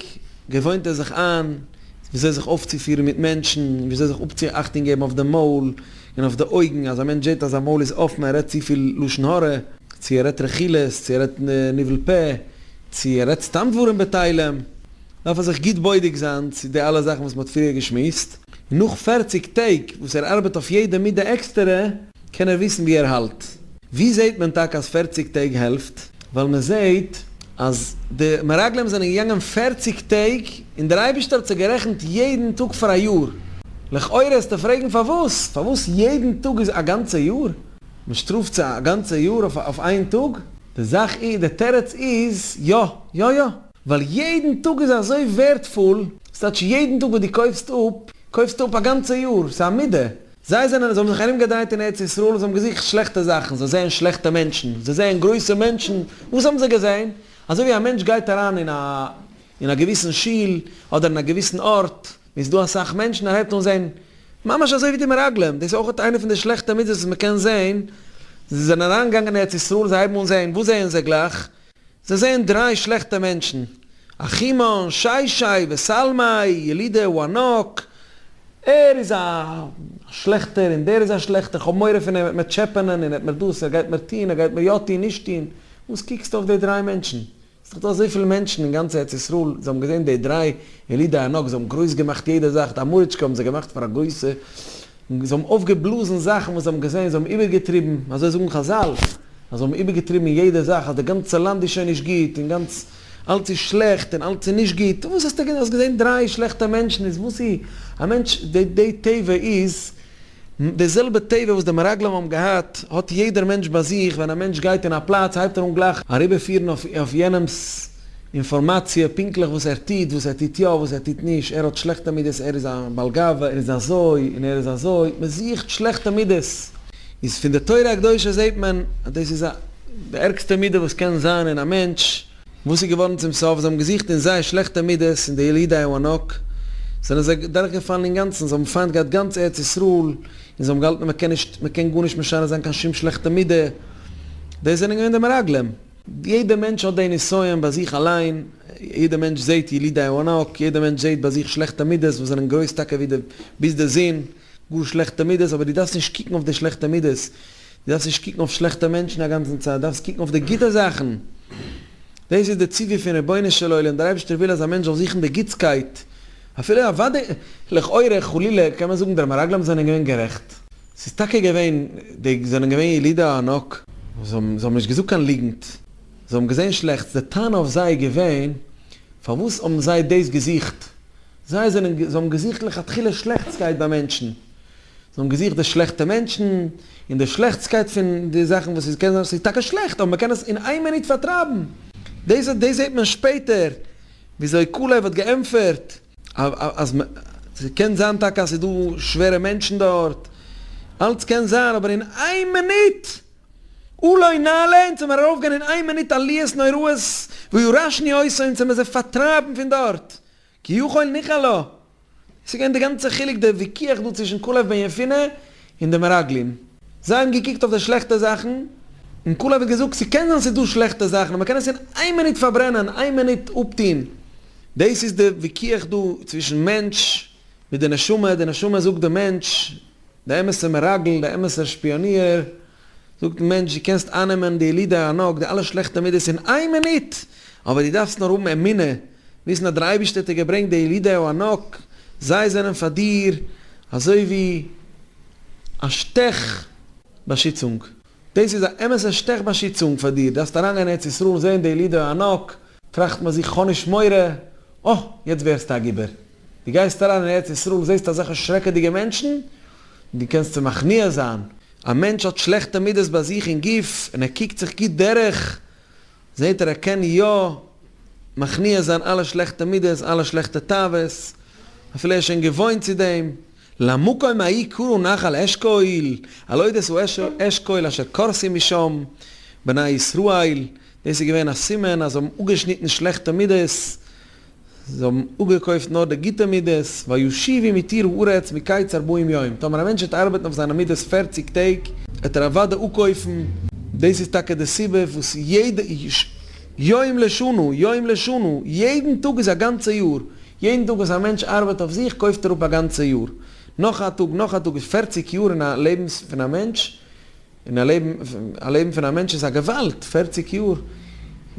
געוואוינט ער זיך איין ווי אזוי זיך אויפצופירן מיט מענטשן, ווי אזוי זיך אפצו אכטונג געבן אויף די מויל, און אויף די אויגן, אז א מענטש זעט אז זיין מויל איז אפן, ער רעדט צופיל לשון הרע, צו ער רעדט רכילות, צו ער רעדט ניבול פה, צו ער רעדט סתם דברים בטלים, דארף ער זיך גוט בודק זיין צו די אלע זאכן וואס מען האט פריער געשמועסט, און נאך פֿערציק טעג וואס ער ארבעט אויף יעדע מידה עקסטערע, קען ער וויסן ווי ער האלט. ווי זעט מען טאקע אז פֿערציק טעג העלפט? ווייל מען זעט אז די מרגלים זענען געגאנגען פֿערציק טעג, און דער אייבערשטער האט זיי גערעכנט יעדן טאג פאר א יאר. לכאורה וועסטו פרעגן פארוואס? פארוואס יעדן טאג איז א גאנצע יאר? מען שטראפט זיי א גאנצע יאר אויף אויף איין טאג? די זאך איז, די תירוץ איז, יא, יא יא! ווייל יעדן טאג איז אזוי ווערטפול, ס'טייטש יעדן טאג וואס דו קויפסט אפ, קויפסטו אפ א גאנצע יאר, ס'איז א מידה. זיי זענען, זיי האבן זיך ארומגעדרייט אין ארץ ישראל און זיי האבן געזוכט שלעכטע זאכן, זיי זעען שלעכטע מענטשן, זיי זעען גרויסע מענטשן, וואס האבן זיי געזען? אזוי ווי א מענטש גייט אריין אין א אין א געוויסן שול אדער אין א געוויסן ארט ווי ס'איז דא אסאך מענטשן, ער הייבט אן זען ממש אזוי ווי די מרגלים, דאס איז אויך איינע פון די שלעכטע מצוות וואס מ'קען זען, זיי זענען אריינגעגאנגען אין ארץ ישראל, זיי הייבן אן זען, וואס זעען זיי גלייך? זיי זעען דריי שלעכטע מענטשן, אחימאן, שיישיי, וסלמאי, ילידי וואנאק, ער איז א שלעכטער און דער איז א שלעכטער, כ'האב מורא פון אים, ער וועט מיר טשעפענען און ער וועט מיר דאס, ער גייט מיר טוהן, ער גייט מיר יא טוהן, נישט טוהן, וואס קוקסטו אויף די דריי מענטשן, ס'איז דאך דא אזויפיל מענטשן אין גאנץ ארץ ישראל, זיי האבן געזען די דריי ילידי וואנאק, זיי האבן גרויס געמאכט יעדע זאך, די אמאריטשקע האבן זיי געמאכט פאר א גרויסע. און זיי האבן אויפגעבלאזן זאכן וואס זיי האבן געזען, זיי האבן איבערגעטריבן, אזוי זאגן חזל, אז זיי האבן איבערגעטריבן אין יעדע זאך, אז די גאנצע לאנד איז שוין נישט גוט, און גאנץ אלץ איז שלעכט, און אלץ איז נישט גוט, וואס האסטו געזען, האסט געזען דריי שלעכטע מענטשן, איז וואס איז, א מענטש, די די טבע איז, די זעלבע טבע וואס די מרגלים האבן געהאט, האט יעדער מענטש ביי זיך, ווען א מענטש גייט אין א פלאץ, הייבט ער אן גלייך אריבערפירן אויף יענעמ'ס, אינפארמאציע, פונקטליך וואס ער טוט, וואס ער טוט יא, וואס ער טוט נישט, ער האט שלעכטע מידות, ער איז א בעל גאווה, ער איז אזוי און ער איז אזוי, מען זוכט שלעכטע מידות, איז פון די תורה הקדושה זעט מען אז דאס איז די ערגסטע מידה וואס קען זיין אין א מענטש, וואס איז געווארן צום סוף, זיי האבן געזוכט אין זיי שלעכטע מידות, און די ילידי הענק זענען זיי דורך געפאלן אינגאנצן, זיי האבן פיינט געהאט גאנץ ארץ ישראל, און זיי האבן געהאלטן אז מען קען נישט, מען קען גארנישט משנה זיין קיין שום שלעכטע מידה, דאס זענען געווען די מרגלים. יעדע מענטש האט די נסיון ביי זיך אליין, יעדע מענטש זעהט ילידי הענק, יעדע מענטש זעהט ביי זיך שלעכטע מידות וואס זענען גרויס טאקע ווי די ביז די זון, גאר שלעכטע מידות, אבער דו דארפסט נישט קוקן אויף די שלעכטע מידות, דו דארפסט נישט קוקן אויף שלעכטע מענטשן א גאנצן צייט, דארפסט קוקן אויף די גוטע זאכן, דאס איז די ציווי פון רבונו של עולם, דער אייבערשטער וויל אז א מענטש זאל זוכן די גוטסקייט, אפילו אוודאי לכאורה חלילה קען מען זאגן די מרגלים זענען געווען גערעכט, ס'איז טאקע געווען, די זענען געווען ילידי הענק. זיי האבן, זיי האבן נישט געזאגט קיין ליגנט. זיי האבן געזען שלעכטס. די טענה אויף זיי איז געווען, פארוואס האבן זיי דאס געזוכט? זיי זענען, זיי האבן געזוכט לכתחילה שלעכטסקייט ביי מענטשן. זיי האבן געזוכט די שלעכטע מענטשן, און די שלעכטסקייט פון די זאכן וואס ס'קען זיין אז ס'איז טאקע שלעכט, אבער מ'קען עס אין איין מינוט פארטרייבן. דאס, דאס זעט מען שפעטער, וויאזוי קאלעב האט געענטפערט. אז מ. ס'קען זיין טאקע אז ס'איז דא שווערע מענטשן דארט, אלץ קען זיין, אבער אין איין מינוט אולי נעלה, אונז זעמיר ארויפגעגאנגען אין איין מינוט עליות נוראות וירשני עושה, אונז זעמיר זיי פארטרייבן פון דארט, כי יכול ניחא לו. דאס איז געווען די גאנצע חילוק, די ויכוח דא צווישן קאלעב בן יפונה, און די מרגלים. זיי האבן געקוקט אויף די שלעכטע זאכן, און כלב האט געזאגט, ס'קען זיין ס'איז דא שלעכטע זאכן, און מ'קען עס אין איין מינוט פארברענען, איין מינוט אפטוהן. דאס איז די ויכוח דא צווישן מענטש מיט די נשמה, די נשמה זאגט די מענטש, די אמת'ע מרגל, די אמת'ער שפיאניער, זאגט די מענטש דו קענסט איינעמען די ילידי הענק, די אלע שלעכטע מידות אין איין מינוט, אבער דו דארפסט נאר האבן אמונה, וויסן אז דער אייבערשטער האט דיר געברענגט די ילידי הענק, זיי זענען פאר דיר אזוי ווי א שטעך באשיצונג, דאס איז א אמת'ע שטעך באשיצונג פאר דיר, דארפסט אריינגיין אין ארץ ישראל און זען די ילידי הענק, טראכט מען זיך כ'האב נישט מורא, אה, יעצט ווערסטו א גיבור. דו גייסט אריין אין ארץ ישראל זעסט אזעלכע שרעקעדיגע מענטשן, דו קענסט צו מכניע זיין, א מענטש האט שלעכטע מידות ביי זיך אין גוף און ער קוקט זיך גוט דורך, זעט ער ער קען יא מכניע זיין אלע שלעכטע מידות, אלע שלעכטע תאוות, אפילו ער איז שוין געוואוינט צו דעם. למקום ההיא קראו נחל אשכול, הלואי דאס איז אשור אשכול אשר קורסים משם בני ישראל, דאס איז געווען א סימן אז זיי האבן אפגעשניטן שלעכטע מידות, זיי האבן אפגעקויפט נאר די גוטע מידות, וישיבי מתיר הארץ מקיץ ארבעים יום, טאמער א מענטש וועט ארבעטן אויף זיינע מידות פערציג טעג, וועט ער אוודאי אפקויפן. דאס איז טאקע די סיבה וואס יעדע יום לשנה, יום לשנה, יעדן טאג איז א גאנצע יאר, יעדן טאג וואס א מענטש ארבעט אויף זיך קויפט ער אפ א גאנצע יאר, נאך א טאג, נאך א טאג, איז פערציג יאר אין א לעבן פון א מענטש, און א לעבן, א לעבן פון א מענטש איז א געוואלד, פערציג יאר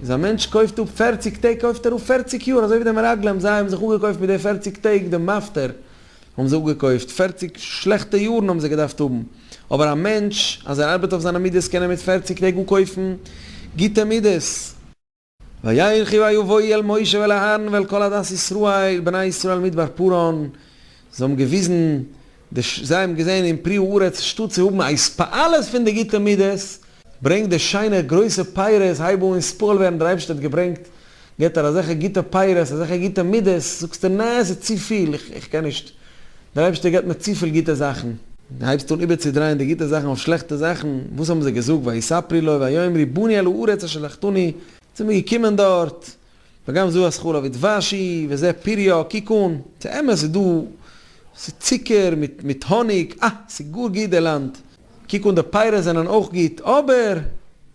איז א מענטש קויפט אפ פערציג טעג קויפט ער אפ פערציג יאר, אזוי ווי די מרגלים זיי האבן זיך אפגעקויפט מיט די פערציג טעג די מפטר האבן זיי אפגעקויפט, פערציג שלעכטע יארן האבן זיי געדארפט האבן, אבער א מענטש אז ער ארבעט אויף זיינע מידות קען ער מיט פערציג טעג אפקויפן גוטע מידות. ויקחו היו ויהי אל משה ואל אהרן ואל כל עדת ישראל בני ישראל מדבר פרען, זיי האבן געוויזן די, זיי האבן געזען אין פרי הארץ שטאט צו האבן א התפעלות פון די גוטע מידות, ברענג די שיינע גרויסע פירות, הייב אן אינספאל ווערן, דער אייבערשטער האט געברענגט, געבט ער אזעלכע גוטע פירות, אזעלכע גוטע מידות, זאגסטו נעה עס איז צופיל, איך קען נישט. דער אייבערשטער געבט מיר צופיל גוטע זאכן, און הייבסט אן איבערצודרייען די גוטע זאכן אויף שלעכטע זאכן, וואס האבן זיי געזאגט, ויספרי לו ויאמרי באני אל הארץ אשר שלחתני, צו מיר געקומען דארט, וגם זו השכלה ודבש היא, וזה פריה, קוק אן, ס'איז אמת, ס'איז דא, ס'איז צוקער מיט מיט האניג, אה, ס'איז גאר גוט די לאנד, קוק אן די פירות זענען אויך גוט, אבער,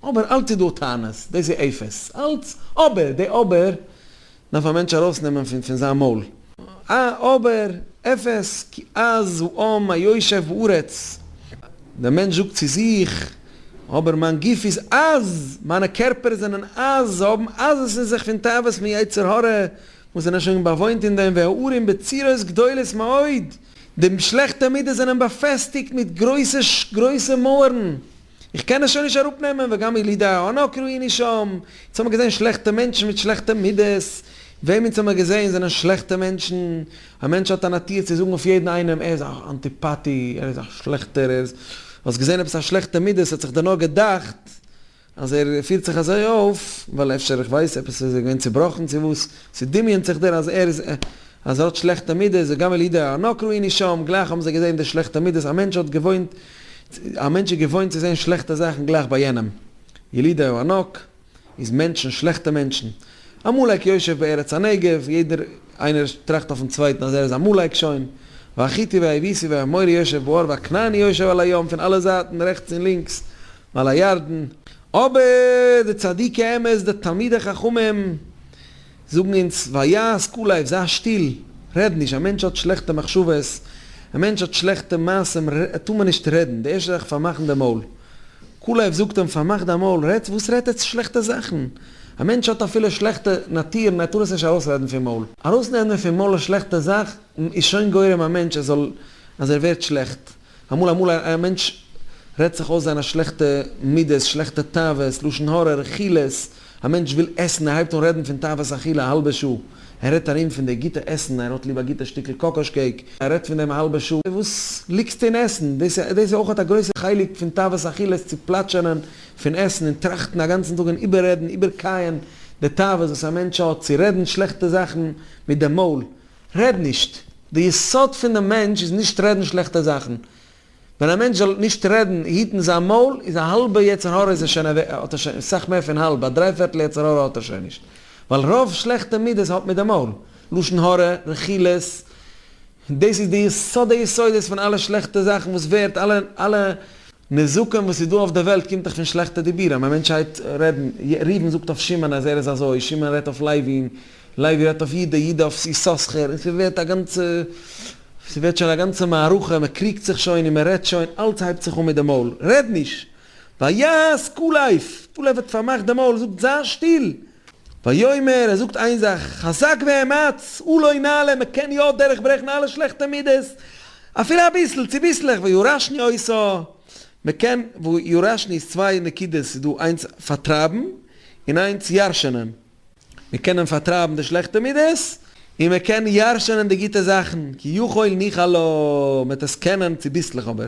אבער אלץ איז דא טענות, דאס איז אפס, אלץ, אבער, די אבער, דארף א מענטש ארויסנעמען פון פון זיין מויל א אבער אפס כי אז הוא עם היושב בארץ, דער מענטש זאגט צו זיך, אבער מיין גוף איז אז, מיינע קערפער זענען אז, זיי האבן אז עס אין זיך פון תאוות פון יצר הרע וואס זענען שוין באוואוינט אין דעם והערים בצירות גדולות מאוד, די שלעכטע מידות זענען באפעסטיגט מיט גרויסע גרויסע מויערן. איך קען עס שוין נישט אראפ נעמען וגם ילידי הענק ראיני שם, אונז האמער געזען שלעכטע מענטשן מיט שלעכטע מידות, וועם אונז האמער געזען זענען שלעכטע מענטשן, א מענטש האט א נאטיר צו זאגן אויף יעדן איינעם ער איז א אנטיפאטי, ער איז א שלעכטער, ער איז, האסט געזען עפעס א שלעכטע מידה, ס'האט זיך דיר נאר געדאכט אז ער פירט זיך אזוי אויף ווייל אפשר איך ווייס עפעס איז ער געווען צובראכן צו וואס, ס'דמיונ'ט זיך דיר אז ער איז אז ער האט שלעכטע מידות, וגם ילידי הענק ראיני שם, גלייך האבן זיי געזען די שלעכטע מידות, א מענטש האט געוואוינט. א מענטש איז געוואוינט צו זען שלעכטע זאכן גלייך ביי יענעם, ילידי הארנאק איז מענטשן, שלעכטע מענטשן, עמלק יושב בארץ הנגב, יעדער איינער טראכט אויפן צווייטן אז ער איז עמלק שוין, והחיתי והיבוסי והאמורי יושב באור והכנעני יושב על הים, פון אלע זייטן רעכטס און לינקס מעל הירדן, אבער די צדיקי אמת די תלמידי חכמים זאגן אונז ווייז קול אויף זיי שטיל רעד נישט א מענטש האט שלעכטע מחשבות א מענטש האט שלעכטע מעשים ר ת טאר מען נישט רעדן די ערשטע זאך פארמאכן די מויל קול אויף זאגט אים פארמאך דיין מויל רעדט וואס רעדט עטס שלעכטע זאכן א מענטש האט אפילו שלעכטע נאטירן ער טאר עס נישט ארויסרעדן פון מויל ארויסנעמען פון מויל א שלעכטע זאך איז שוין גורם א מענטש ער זאל אז ער ווערט שלעכט אמאל אמאל א א מענטש רעדט זיך אויס זיינע שלעכטע מידות, שלעכטע תאוות, לשון הרע, רכילות, א מענטש וויל עסן ער הייבט אן רעדן פון תאוות אכילה א האלבע שעה, ער רעדט ארום פון די גוטע עסן, ער האט ליב א גוטע שטיקל קאקאש קעיק, ער רעדט פון דעם א האלבע שעה, וואס ליגסטו אין עסן? דאס דאס איז אויך א גרויסע חלק פון תאוות אכילה צו פלאטשענען פון עסן און טראכטן א גאנצן טאג און איבעררעדן איבערקייען די תאוות וואס א מענטש האט, צו רעדן שלעכטע זאכן מיט דעם מויל, רעד נישט. די יסוד פון די מענטש איז נישט רעדן שלעכטע זאכן. ווען א מענטש זאל נישט רעדן, היטן זיין מויל, איז א האלבע יצר הרע איז ער שוין אוועק, האט ער שוין, סאך מער פון האלב, א דריי פערטל יצר הרע האט ער שוין נישט. ווייל רוב שלעכטע מידות האט מיט די מויל. לשון הרע, רכילות, דאס איז די יסוד היסודות פון אלע שלעכטע זאכן וואס ווערט, אלע אלע נזקים וואס איז דא אויף די וועלט קומט דאך פון שלעכטע דיבורים. א מענטש הייבט רעדן, ראובן זאגט אויף שמעון אז ער איז אזוי, שמעון רעדט אויף לייבין, לייבי רעדט אויף איד, דער איד אויף יששכר, און ס'ווערט א גאנצע, ס'ווערט שוין א גאנצע מערכה, מ'קריגט זיך שוין און מ'רעדט שוין, אלץ הייבט זיך אן מיט די מויל, רעד נישט! ויעש ק לייב! ק לייב האט פארמאכט די מויל, זאגט זיי שטיל! ויאמר, ער זאגט איין זאך, חזק ואמץ, הוא לא נעלה, מ'קען יא דורך ברעכן אלע שלעכטע מידות, אפילו אביסל, צוביסלעך, ויורשני עושה, מ'קען, ויורשני איז צוויי נקודות, ס'איז דא איינס פארטרייבן, און איינס ירש'נען. מיר קענען פארטרייבן די שלעכטע מידות, און מען קען ירשענען די גוטע זאכן, כי יכול ניחא לו, מען וועט עס קענען צוביסלעך אבער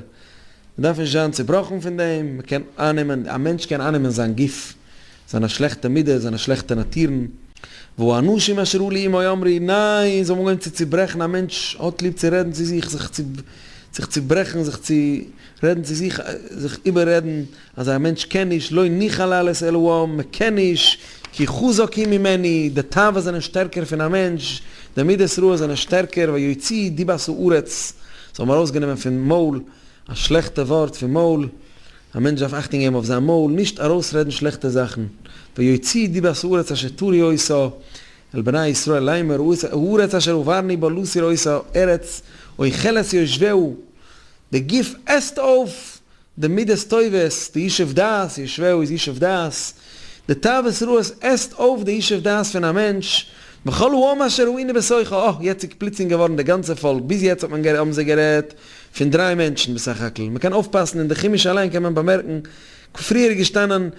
מען דארף נישט זיין צובראכן פון דעם, מען קען אייננעמען, א מענטש קען אייננעמען זיין גוף, זיינע שלעכטע מידות, זיינע שלעכטע נאטורן. והוא אנשים אשר הוא לאימו יאמרי, ניין, זיי האבן אנגעהויבן צו צוברעכן, א מענטש האט ליב צו רעדן צו זיך, זיך צו ברעכן, זיך צו רעדן צו זיך, זיך איבעררעדן, אז א מענטש קען נישט, לא ניחא לעלות אל הוים, מען קען נישט, כי חזק היא ממני, די תאוות זענען שטערקער פון א מענטש, די מידות רעות זענען שטערקער, ויוציא דיבת הארץ, זיי האבן ארויסגענומען פון מויל, א שלעכטע ווארט פון מויל, א מענטש דארף אכטונג געבן אויף זיין מויל, נישט ארויסרעדן שלעכטע זאכן, ויוציא דיבת הארץ אשר תורי עושה, על בני ישראל לאמור, הארץ אשר הועברני בה להסיר עושה, ארץ אוכלת יושביה, די גוף עסט אויף די מידות טובות, די ישוב דעת, ישבהו איז ישוב דעת, די תאוות רעות עסט אויף די ישוב דעת פון א מענטש, וכל העם אשר הוא עני בשכל, אה, יעצטיג פלוצלינג געווארן די גאנצע פאלק, ביז יעצט האט מען האבן זיי גערעדט פון דריי מענטשן בסך הכל, מען קען אויפפאסן אין די חומש אליין קען מען באמערקן, פריער איז געשטאנען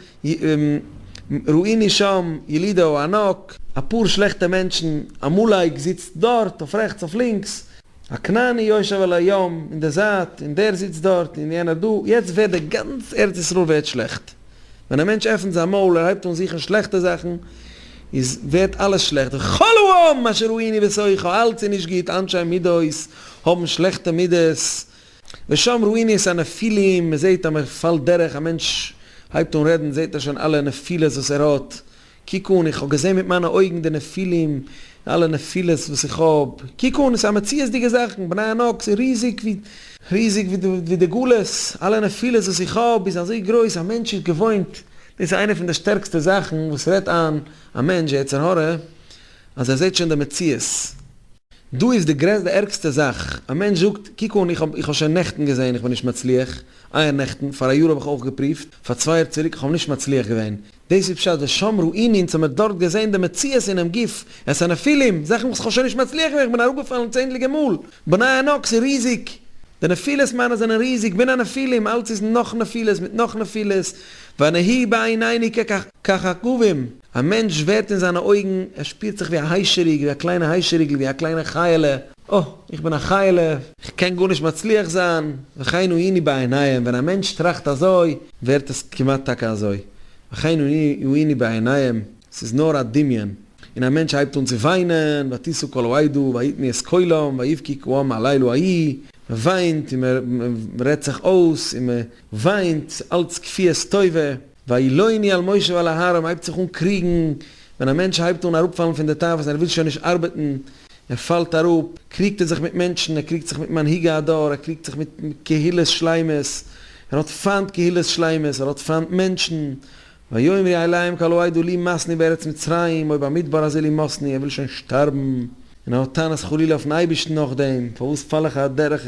ראיני שם ילידהו ענק, אפאר שלעכטע מענטשן, עמלק זיצט דארט אויף רעכטס אויף לינקס, א כנעני יושב על הים, און דער זייט, און דער זיצט דארט, און יענער דא, יעצט ווערט דער גאנץ ארץ ישראל ווערט שלעכט, ווען א מענטש עפנט זיין מויל און הייבט אן זוכן שלעכטע זאכן, איז ווערט אלעס שלעכט, וכל העם אשר ראיני וסוחו, אלץ איז נישט גוט, אנשי מידות האבן שלעכטע מידות, ושם ראיני את הנפילים, מען זעט אז מען פאלט דורך, א מענטש הייבט אן רעדן זעט ער שוין אלע נפילות וואס ער האט, קוק אן, איך האב געזען מיט מיינע אויגן די נפילים, די אלע נפילות וואס איך האב, קוק אן, עס איז א מציאות'דיגע זאכן, בני ענק איז ריזיג ווי, ריזיג ווי די גלות, אלע נפילות וואס איך האב איז אזוי גרויס, א מענטש איז געוואוינט, דאס איז איינע פון די שטערקסטע זאכן וואס רעדט איין א מענטש, די יצר הרע, אז ער זעט שוין די מציאות. דא איז די גרעסט די ערגסטע זאך, א מענטש זאגט, קוק אן, איך האב איך האב שוין נעכטן געזעהן איך בין נישט מצליח, אייער נעכטן, פאר א יאר האב איך אויך געפריווט, פאר צוויי יאר צוריק איך האב נישט מצליח געווען, דאס איז פשט ושמרו עיני אונז האמיר דארט געזעהן די מציאות אינעם גוף, את הנפילים, זאכן וואס איך האב שוין נישט מצליח געווען איך בין אראפגעפאלן צענדליגע מאל, בני ענק ס'איז ריזיג, די נפילות מיינע זענען ריזיג, בין הנפילים, אלץ איז נאך נפילות מיט נאך נפילות, ואנהי בעיניני ככוכבים. א מענטש ווערט אין זיינע אויגן, ער שפירט זיך ווי א היישעריג, ווי א קליינע היישעריגל, ווי א קליינע חיי'לע, אה, איך בין א חיי'לע, איך קען גארנישט מצליח זיין, וכהנה היני בעיניהם, ווען א מענטש טראכט אזוי, ווערט עס כמעט טאקע אזוי, וכהנה היני בעיניהם, ס'איז נאר א דמיון, און א מענטש הייבט אן צו וויינען, ותשא כל העדה ויתנו את קולם ויבכי כעם הלילה ההיא, מען וויינט און מען רעדט זיך אויס, און מען וויינט אלץ כפיית טובה. ואילו אני על משה ועל אהרן הייבט זיך אן קריגן ווען א מענטש הייבט אן אראפפאלן פון די תאוות און ער וויל שוין נישט ארבעטן, ער פאלט אראפ, קריגט ער זיך מיט מענטשן, ער קריגט זיך מיט מנהיגי הדור, ער קריגט זיך מיט קהילות שלמות, ער האט פיינט קהילות שלמות, ער האט פיינט מענטשן, ויאמר יהיה להם כלא היידו לי מאסני בארץ מצרים או במדבר הזה לי מאסני, ער וויל שוין שטארבן, און ער האט טענות חלילה אויפן אייבערשטן נאכדעם, פארוואס פאל איך אדערך.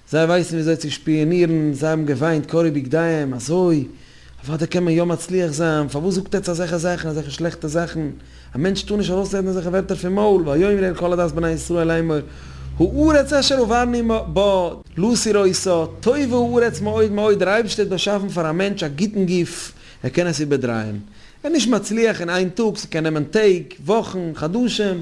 זיי ווייסן וויאזוי צו שפיאנירן, זיי האבן געוויינט קרי בגדיהם, אזוי אוודאי קען מען יא מצליח זיין, פארוואס זאגט עטץ אזעלכע זאכן, אזעלכע שלעכטע זאכן, א מענטש טאר נישט ארויסרעדן אזעלכע ווערטער פון מויל, ויאמר אל כל עדת בני ישראל לאמור, הארץ אשר הובלני בה, לאז איר אויס א, טובה הארץ מאוד מאוד, דער אייבערשטער האט באשאפן פאר א מענטש א גוטן גוף, ער קען עס איבערדרייען, ער איז נישט מצליח אין איין טאג, ס'קען נעמען טעג, וואכן, חדשים,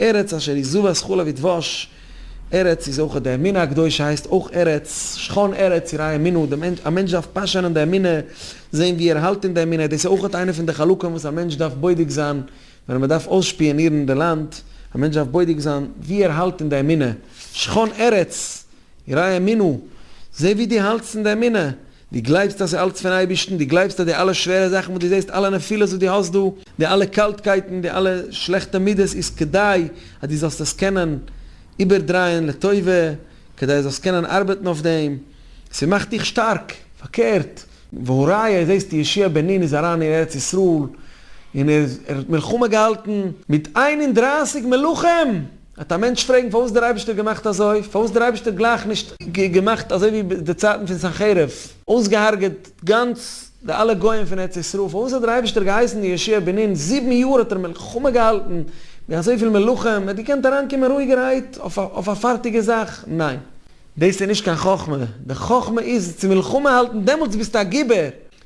ארץ אשר היא זבת חלב ודבש, ארץ איז אויך די אמונה הקדושה הייסט אויך ארץ, שכון ארץ יראי אמונה, די מענטש, א מענטש דארף פאשען אין די אמונה, זען ווי ער האלט אין די אמונה, דאס איז אויך איינע פון די חלקים וואס א מענטש דארף בודק זיין ווען מען דארף אויסשפיאנירן די לאנד, א מענטש דארף בודק זיין ווי ער האלט אין די אמונה, שכון ארץ יראי אמונה, זע ווי דו האלטסט אין די אמונה. דו גלייבסט אז ס'איז אלץ פון אייבערשטן? דו גלייבסט אז די אלע שווערע זאכן וואס דו זעסט, אלע נפילות וואס דו האסט דא, די אלע קאלטקייטן, די אלע שלעכטע מידות איז כדי אז דו זאלסט עס קענען איבערדרייען לטובה, כדי אז זאלסט קענען ארבעטן אויף דעם, ס'מאכט דיך שטארק? פארקערט, והא ראיה, זעסט ישעי' בן נון איז אריין אין ארץ ישראל און ער האט מלחמה געהאלטן מיט איין און דרייסיג מלכים! וועט א מענטש פרעגן פארוואס דער אייבערשטער האט געמאכט אזוי? פארוואס האט דער אייבערשטער גלייך נישט געמאכט אזוי ווי די צייטן פון סנחריב? אויסגעהארגעט גאנץ די אלע גויים פון ארץ ישראל? פארוואס האט דער אייבערשטער געהייסן די ישעי' בנין זיבן יאר האט ער מלחמה געהאלטן מיט אזויפיל מלאכים? ער האט געקענט אריינקומען רואיגערהייט אויף א פארטיגע זאך? ניין. דאס איז נישט קיין חכמה. די חכמה איז צו מלחמה האלטן דעמאלטס ביסטו א גיבור.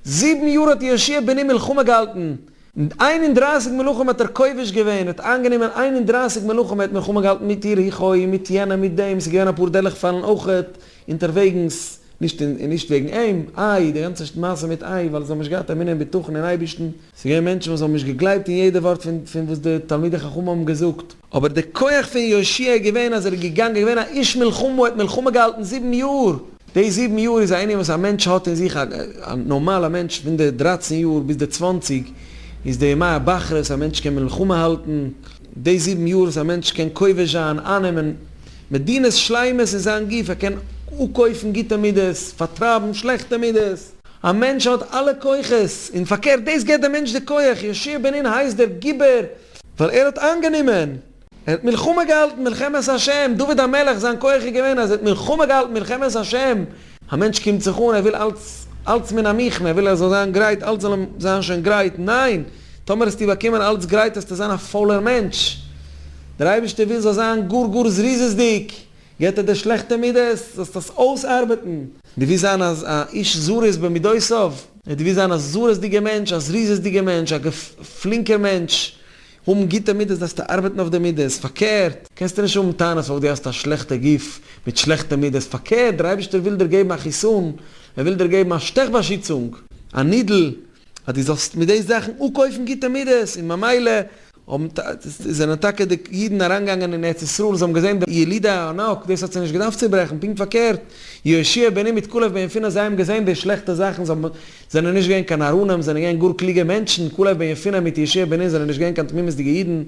זיבן יאר האט ישעי' בנין מלחמה געהאלטן. מיט איין און דרײַסיק מלכים האט ער כובש געווען, ער האט איינגענומען איין און דרײַסיק מלכים, ער האט מלחמה געהאלטן מיט יריחו און מיט יענעם מיט דעם, ס'איז געווען אפאר דערלעכפאלן אויכעט אונטערוועגנס, נישט און נישט וועגן אים, איי, די גאנצע מעשה מיט איי, ווייל זיי האבן נישט געהאט אמונה און בטחון אין אייבערשטן, ס'איז געווען מענטשן וואס האבן נישט געגלייבט אין יעדע ווארט פון פון וואס די תלמידי חכמים האבן געזאגט. אבער די כח פון יושע איז געווען אז ער איז געגאנגען, געווען א איש מלחמה, ער האט מלחמה געהאלטן זיבן יאר! די זיבן יאר איז א ענין וואס א מענטש האט אין זיך, א נארמאלע מענטש פון די דרייצן יאר ביז די צוואנציג איז די ימי הבחרות, א מענטש קען מלחמה האלטן, די זיבן יאר וואס א מענטש קען כובש זיין, איינעמען מדינות שלימות אין זיין גוף, ער קען אפקויפן גוטע מידות, פארטרייבן שלעכטע מידות, א מענטש האט אלע כוחות, און פארקערט דאס געבט דעם מענטש די כח, יושע בן נון הייסט דער גיבור ווייל ער האט איינגענומען, ער האט מלחמה געהאלטן מלחמת השם, דוד המלך זיין כח איז געווען אז ער האט מלחמה געהאלטן מלחמת השם, א מענטש קומט זיך אן ער וויל אלץ אלץ מן המכמה, ער וויל ער זאל זיין גרייט אלץ זאל אים זיין שוין גרייט, ניין, טאמער האסטו באקומען אלץ גרייט האסטו זיין א פולער מענטש, דער אייבערשטער וויל זאל זיין גאר גאר זריזות'דיג, געט ער דיר שלעכטע מידות, זאלסט עס אויסארבעטן. דו ווילסט זיין א איש זריז במידותיו? דו ווילסט זיין א זריזדיגער מענטש, א זריזות'דיגער מענטש, א פלינקער מענטש, האבן גוטע מידות, דארפסטו ארבעטן אויף די מידות. פארקערט, קענסטו נישט האבן טענות ווייל דו האסט א שלעכטע גוף מיט שלעכטע מידות. פארקערט, דער אייבערשטער וויל דיר געבן א חיסון, ער וויל דיר געבן א שטעך באשיצונג, א נידל, אז דו זאלסט מיט די זאכן אפקויפן גוטע מידות, און ממילא זענען טאקע די אידן אריינגעגאנגען אין ארץ ישראל און זיי האבן געזען די ילידי הענק, דאס האט זיי נישט געדארפט צוברעכן, פונקט פארקערט, יהושע בני מיט כלב בן יפונה זיי האבן געזען די שלעכטע זאכן, זיי האבן זענען נישט געווען קיין נאראנים, זענען געווען גאר קלוגע מענטשן, כלב בן יפונה מיט יהושע בני זענען נישט געווען קיין תמימות'דיגע אידן,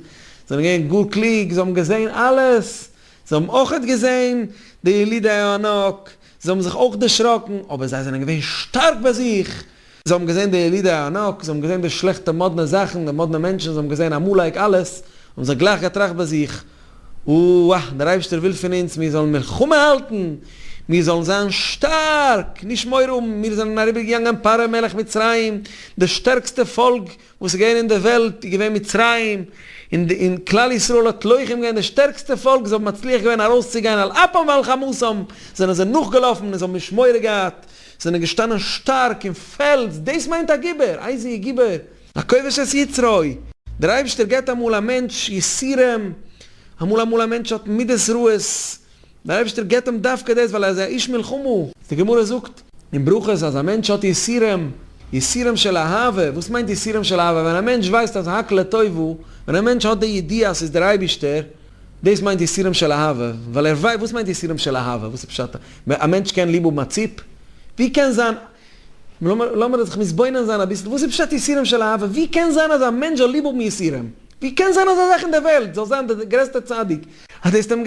זענען געווען גאר קלוג, זיי האבן געזען אלעס, זיי האבן אויכעט געזען די ילידי הענק, זיי האבן זיך אויך דערשראקן, אבער זיי זענען געווען שטארק ביי זיך. זיי האבן געזען די ילידי הענק, זיי האבן געזען די שלעכטע מאדנע זאכן, די מאדנע מענטשן, זיי האבן געזען עמלק אלעס, האבן זיי גלייך געטראכט ביי זיך, אוה, דער אייבערשטער וויל פון אונז מיר זאלן מלחמה האלטן, מיר זאלן זיין שטארק, נישט מורא האבן, מיר זענען אריבערגעגאנגען פרעה מלך מצרים, די שטערקסטע פאלק, וואס איז געווען אין די וועלט איז געווען מצרים, און כלל ישראל האט לוחם געווען די שטערקסטע פאלק, זיי האבן מצליח געווען ארויסצוגיין על אפם ועל חמתם, זענען זיי נאכגעלאפן און זיי האבן נישט מורא געהאט, זענען געשטאנען שטארק און פעלץ, דאס מיינט א גיבור, איי איז ער גיבור? א כובש את יצרו, דער אייבערשטער געבט אמאל א מענטש יסורים, אמאל אמאל א מענטש האט מידות רעות, דער אייבערשטער געבט אים דווקא דאס ווייל ער איז א איש מלחמה. די גמרא זאגט אין ברכות אז א מענטש האט יסורים, יסורים של אהבה, וואס מיינט יסורים של אהבה? ווען א מענטש ווייסט אז הק' לטובה, ווען א מענטש האט די ידיעה אז ס'איז דער אייבערשטער, דאס מיינט יסורים של אהבה, ווייל ער ווייסט, וואס מיינט יסורים של אהבה? וואס איז פשט? א מענטש קען ליב האבן א ציפ? ווי קען זיין, לאמיר, לאמיר זיך מתבונן זיין אביסל, וואס איז פשט יסורים של אהבה? ווי קען זיין אז א מענטש זאל ליב האבן יסורים? ווי קען זיין אזא זאך אין דער וועלט? זאל זיין דער גרעסטער צדיק, אז דאס טוט אים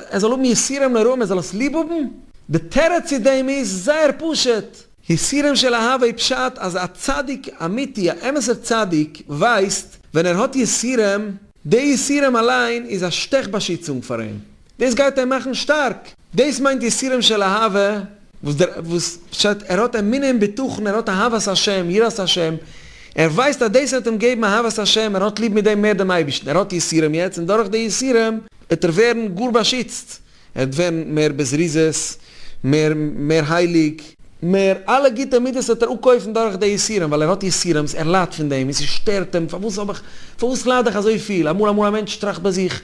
ער זאל האבן יסורים נוראים ער זאל עס ליב האבן? די תירוץ צו דעם איז זייער פשוט. יסורים של אהבה פשט אז א צדיק אמיתי א אמת'ער צדיק ווייסט ווען ער האט יסורים, די יסורים אליין איז א שטעך באשיצונג פאר אים, דאס גייט אים מאכן שטארק, דאס מיינט יסורים של אהבה. וואס דער וואס פשט ער האט אמונה און בטחון ער האט אהבת השם יראת השם ער ווייסט אז דאס וועט אים געבן אהבת השם ער האט ליב מיט דעם מער דעם אייבערשטן ער האט יסורים יעצט און דורך די יסורים וועט ער ווערן גאר באשיצט ער וועט ווערן מער בזריזות מער מער הייליג מער אלע גוטע מידות וועט ער אפקויפן דורך די יסורים ווייל ער האט יסורים ער ליידט פון דעם און ס'שטערט אים פארוואס האב איך פארוואס לייד איך אזויפיל אמאל אמאל א מענטש טראכט ביי זיך.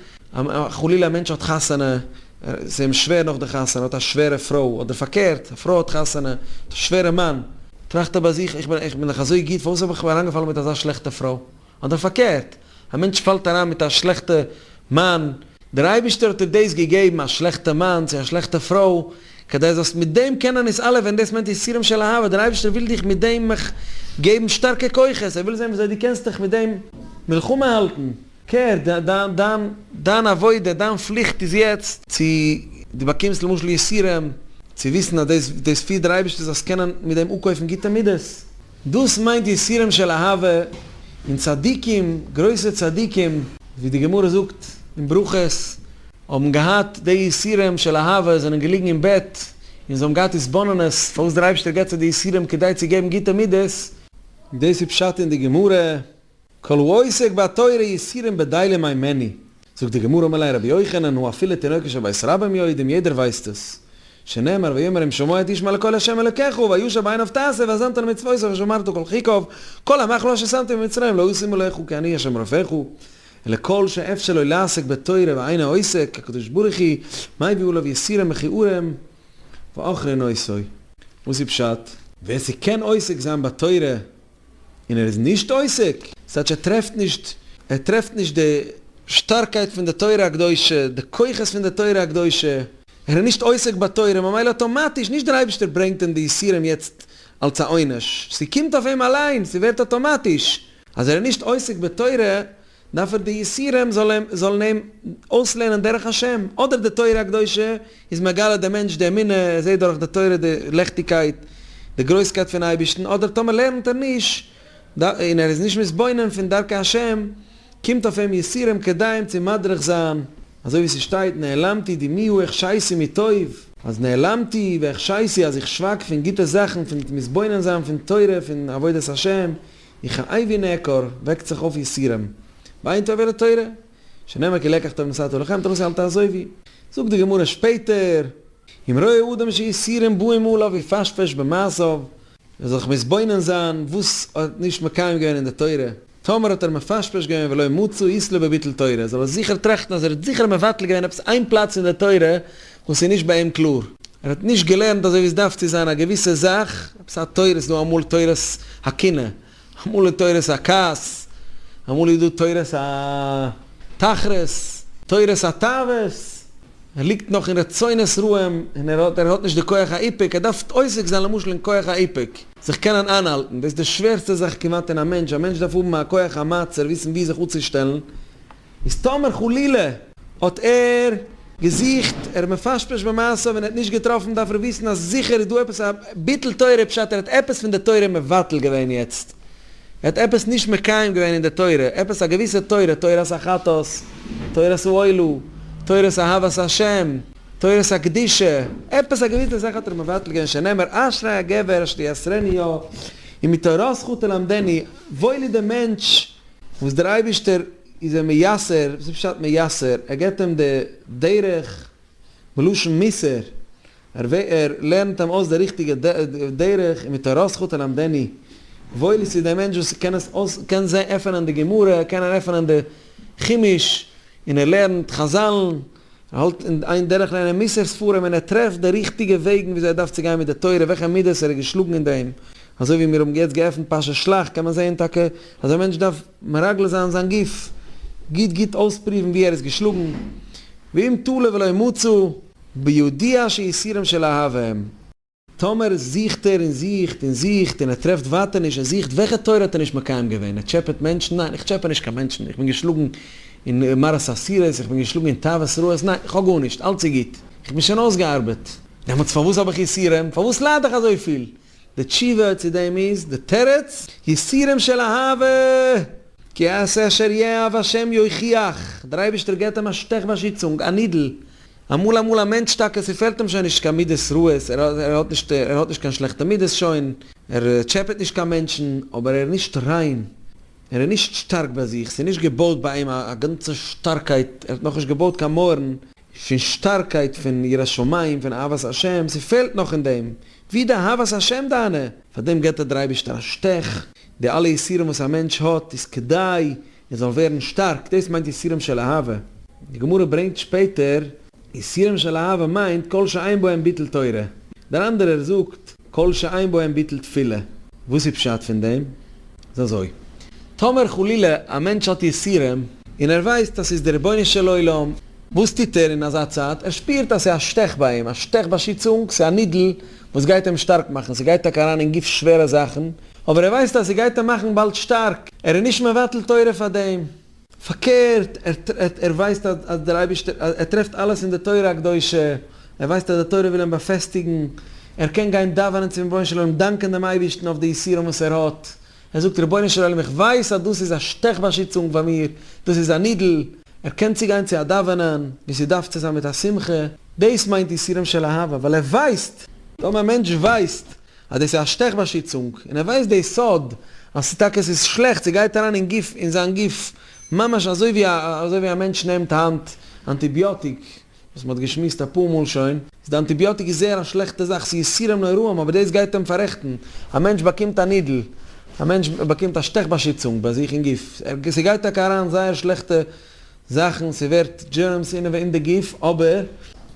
חלילה א מענטש האט חתונה, ס'איז אים שווער נאך די חתונה, ער האט א שווערע פרוי, אדער פארקערט, א פרוי האט חתונה, האט א שווערע מאן, טראכט ער ביי זיך, איך בין איך בין דאך אזוי גוט, פארוואס האב איך מיר אריינגעפאלן מיט אזא שלעכטע פרוי? אדער פארקערט, א מענטש פאלט אריין מיט א שלעכטע מאן, דער אייבערשטער האט דיר דאס געגעבן, א שלעכטע מאן, צו א שלעכטע פרוי, כדי זאלסט מיט דעם קענען איז אלע ווען דאס מיינט יסורים של אהבה, דער אייבערשטער וויל דיך מיט דעם געבן שטארקע כוחות, ער וויל זען וויאזוי דו קענסט דיך מיט דעם מלחמה האלטן. קער, דיין עבודה, דיין פליכט איז יעצט צו דו באקומסט למשל יסורים, צו וויסן אז דאס דאס פירט דער אייבערשטער זאלסט קענען מיט דעם אפקויפן גוטע מידות, דאס מיינט יסורים של אהבה, און צדיקים, גרויסע צדיקים, ווי די גמרא זאגט אין ברכות, האבן געהאט די יסורים של אהבה, זענען געליגן אין בעט און זיי האבן געהאט התבוננות פארוואס דער אייבערשטער געבט זיי די יסורים כדי צו געבן גוטע מידות, דאס איז פשט אין די גמרא. כל העוסק בתורה יסירים בדיליה מאי מעני, זאגט די גמרא מל' רבי יוחנן הוא אפילו תינוקות של בית רבן יודעים יעדער ווייסט עס, שנאמר ויאמר אם שמוע את איש מה לקול השם אלקיך הוא וישב עיניו תעשה ואזנת למצוותיו ושמרת כל חקיו כל המחלו אשר שמתי במצרים לא ישימו לך כי אני השם רופאיך אלא כל שאפשר לו לעסוק בתורה ואין העוסק הקדוש ברוך הוא מביא עליו יסירים מכיעורים ואחרי נושאי. וואס איז פשט? ווער ס'קען עוסק זיין בתורה. און ער איז נישט עוסק, ס'טייטש ער טרעפט נישט, ער טרעפט נישט די שטארקייט פון די תורה הקדושה, די כוחות פון די תורה הקדושה, ער איז נישט עוסק בתורה, ממילא אטאמאטיש, נישט דער אייבערשטער ברענגט אים די יסורים יעצט אלץ א עונש, ס'קומט אויף אים אליין, ס'ווערט אטאמאטיש, אז ער איז נישט עוסק בתורה, דארף ער די יסורים זאלן אים אויסלערנען דרך השם, אדער די תורה הקדושה איז מגלה דעם מענטש די אמונה, ער זעט דורך די תורה די לעכטיגקייט, די גרויסקייט פון אייבערשטן, אדער טאמער לערנט ער נישט און ער איז נישט מתבונן פון דרכי השם, קומט אויף אים יסורים כדי אים צו מדריך זיין, אזוי ווי ס'שטייט נעלמתי דמיהו החשייסי מטוב, אז נעלמתי והחשייסי אז איך שווייג פון גוטע זאכן, פון נישט מתבונן זיין פון תורה, פון עבודת השם, איך א איי ווי נעקור, וועקט זיך אויף יסורים, וויינט אויף עברת תורה, שנאמר כי לקח טוב נשאתו לכם, תרוסי אל תעזוי ווי. זאגט די גמרא שפעטער. אם רואה אדם שיסורים באים עליו יפשפש במעשיו, ער זאל זיך מתבונן זיין וואס ער האט נישט מקיים געווען אין די תורה, טאמער האט ער מפשפש געווען ולא מצא איסלא בביטול תורה, זאל ער זיכער טראכטן אז ער האט זיכער מבטל געווען עפעס איין פלאץ אין די תורה און ס'איז נישט ביי אים קלאר, ער האט נישט געלערנט אזוי ווי עס דארף צו זיין א געוויסע זאך, עפעס א תורה, ס'איז דא אמאל תורת הקנאה, אמאל איז תורת הכעס, אמאל איז דא תורת התחרות, תורת התאוות, ער ליגט נאך אין רצונות רעים, און ער האט ער האט נישט די כח האיפוק, ער דארף עוסק זיין למשל אין כח האיפוק, זיך קענען איינהאלטן, דאס איז די שווערסטע זאך כמעט אין א מענטש, א מענטש דארף האבן א כח המעצר, וויסן ווי זיך אפצושטעלן, איז טאמער חלילה האט ער געזוכט, ער האט מפרש פרש במעשיו און ער האט נישט געטראפן דארף ער וויסן אז זיכער איז דא עפעס א ביטול תורה פשט ער האט עפעס פון די תורה מבטל געווען יעצט ער האט עפעס נישט מקיים געווען אין די תורה עפעס א געוויסע תורה תורת החטאת תורת האוהלו תורת אהבת השם תורת הקדושה עפעס א געוויסע זאך האט ער מבטל געווען שנאמר אשרי הגבר אשר תייסרני יה און מתורתך תלמדני וואויל איז דעם מענטש וואס דער אייבערשטער איז אים מייסר, וואס איז פשט מייסר? ער געבט אים די דרך, מלשון מוסר, ער לערנט אים אויס די ריכטיגע דרך, און מתורתך תלמדני, וואויל איז צו דעם מענטש וואס קען עס אויס, קען עפענען די גמרא, קען ער עפענען די חומש, און ער לערנט חזל, און ער האלט אין איין דורך לערנען מוסר ספרים און ער טרעפט די ריכטיגע וועגן וויאזוי ער דארף צו גיין מיט די תורה, וועלכע מידות ער איז געשלאגן אין דעם. אזוי ווי מיר האבן יעצט געעפנט פרשת שלח קען מען זען טאקע אז א מענטש דארף מרגל זיין זיין גוף, גוט גוט אויספריוון ווי ער איז געשלאגן, ואם תלו ולא ימוצו, בידיעה שיסורם של אהבה הם. טאמער זוכט ער און זוכט און זוכט און ער טרעפט ווייטער נישט, ער זוכט וועלכע תורה האט ער נישט מקיים געווען? ער טשעפעט מענטשן? ניין, איך טשעפע נישט קיין מענטשן, איך בין געשלאגן אין מרת אסירות, איך בין געשלאגן אין תאוות רעות, ניין, איך האב גארנישט, אלץ איז גוט, איך בין שוין אויסגעארבעט, דעמאלטס פארוואס האב איך יסורים? פארוואס לייד איך אזויפיל? די תשובה צו דעם איז, די תירוץ, יסורים של אהבה! כי אעשה אשר יאהב השם יוכיח, דער אייבערשטער געבט אים א שטעך באשיצונג, א נידל, אמאל אמאל א מענטש טאקע ס'פעלט אים שוין נישט קיין מידות רעות, ער האט נישט ער האט נישט קיין שלעכטע מידות שוין, ער טשעפעט נישט קיין מענטשן, אבער ער איז נישט ריין, ער איז נישט שטארק ביי זיך, ס'איז נישט געבויט ביי אים א גאנצע שטארקייט, ער האט נאכנישט געבויט קיין מויערן פון שטארקייט, פון יראת שמים, פון אהבת השם, ס'פעלט נאך אין דעם, ווי די אהבת השם דיינע? פאר דעם געבט ער דער אייבערשטער א שטעך, די אלע יסורים וואס א מענטש האט איז כדי און זאל ווערן שטארק, דאס מיינט יסורים של אהבה, די גמרא ברענגט שפעטער. יסורים של אהבה מיינט כל שאין בהם ביטול תורה, דער אנדערער זאגט כל שאין בהם ביטול תפילה, וואס איז פשט פון דעם? איז אזוי, טאמער חלילה א מענטש האט יסורים, און ער ווייסט אז ס'איז דער רבונו של עולם, וואס טוט ער אין אזא צייט? ער שפירט אז ס'איז א שטעך ביי אים, א שטעך באשיצונג, ס'איז א נידל, וואס גייט אים שטארק מאכן, ס'גייט טאקע אריין אין גוף שווערע זאכן, אבער ער ווייסט אז ס'גייט אים מאכן באלד שטארק, ער איז נישט מבטל תורה פאר דעם, פארקערט, ער ער ווייסט אז דער אייבערשטער, ער טרעפט אלעס אין די תורה הקדושה, ער ווייסט אז די תורה וויל אים באפעסטיגן, ער קען גיין דאווענען צום רבונו של עולם, דאנקען דעם אייבערשטן אויף די יסורים וואס ער האט, ער זאגט רבונו של עולם איך ווייס אז דאס איז א שטעך באשיצונג פאר מיר, דאס איז א נידל, ער קען צו גיין צו א דאווענען ווי ס'דארף צו זיין מיט א שמחה, דאס מיינט יסורים של אהבה, ווייל ער ווייסט, טאמער א מענטש ווייסט אז דאס איז א שטעך באשיצונג, און ער ווייסט די סוד אז ס'איז טאקע ס'איז שלעכט, ס'גייט אריין אין גוף, אין זיין גוף, ממש אזוי ווי א אזוי ווי א מענטש נעמט היינט אנטיביאטיק, וואס מען האט געשמועסט אפאר מאל שוין, איז די אנטיביאטיק איז זייער א שלעכטע זאך, ס'איז יסורים נוראים אבער דאס גייט אים פאררעכטן, א מענטש באקומט א נידל, א מענטש באקומט א שטעך באשיצונג ביי זיך אין גוף, ער, ס'גייט טאקע אריין זייער שלעכטע זאכן, ס'ווערט דזשערמס אינעווען אין די גוף, אבער.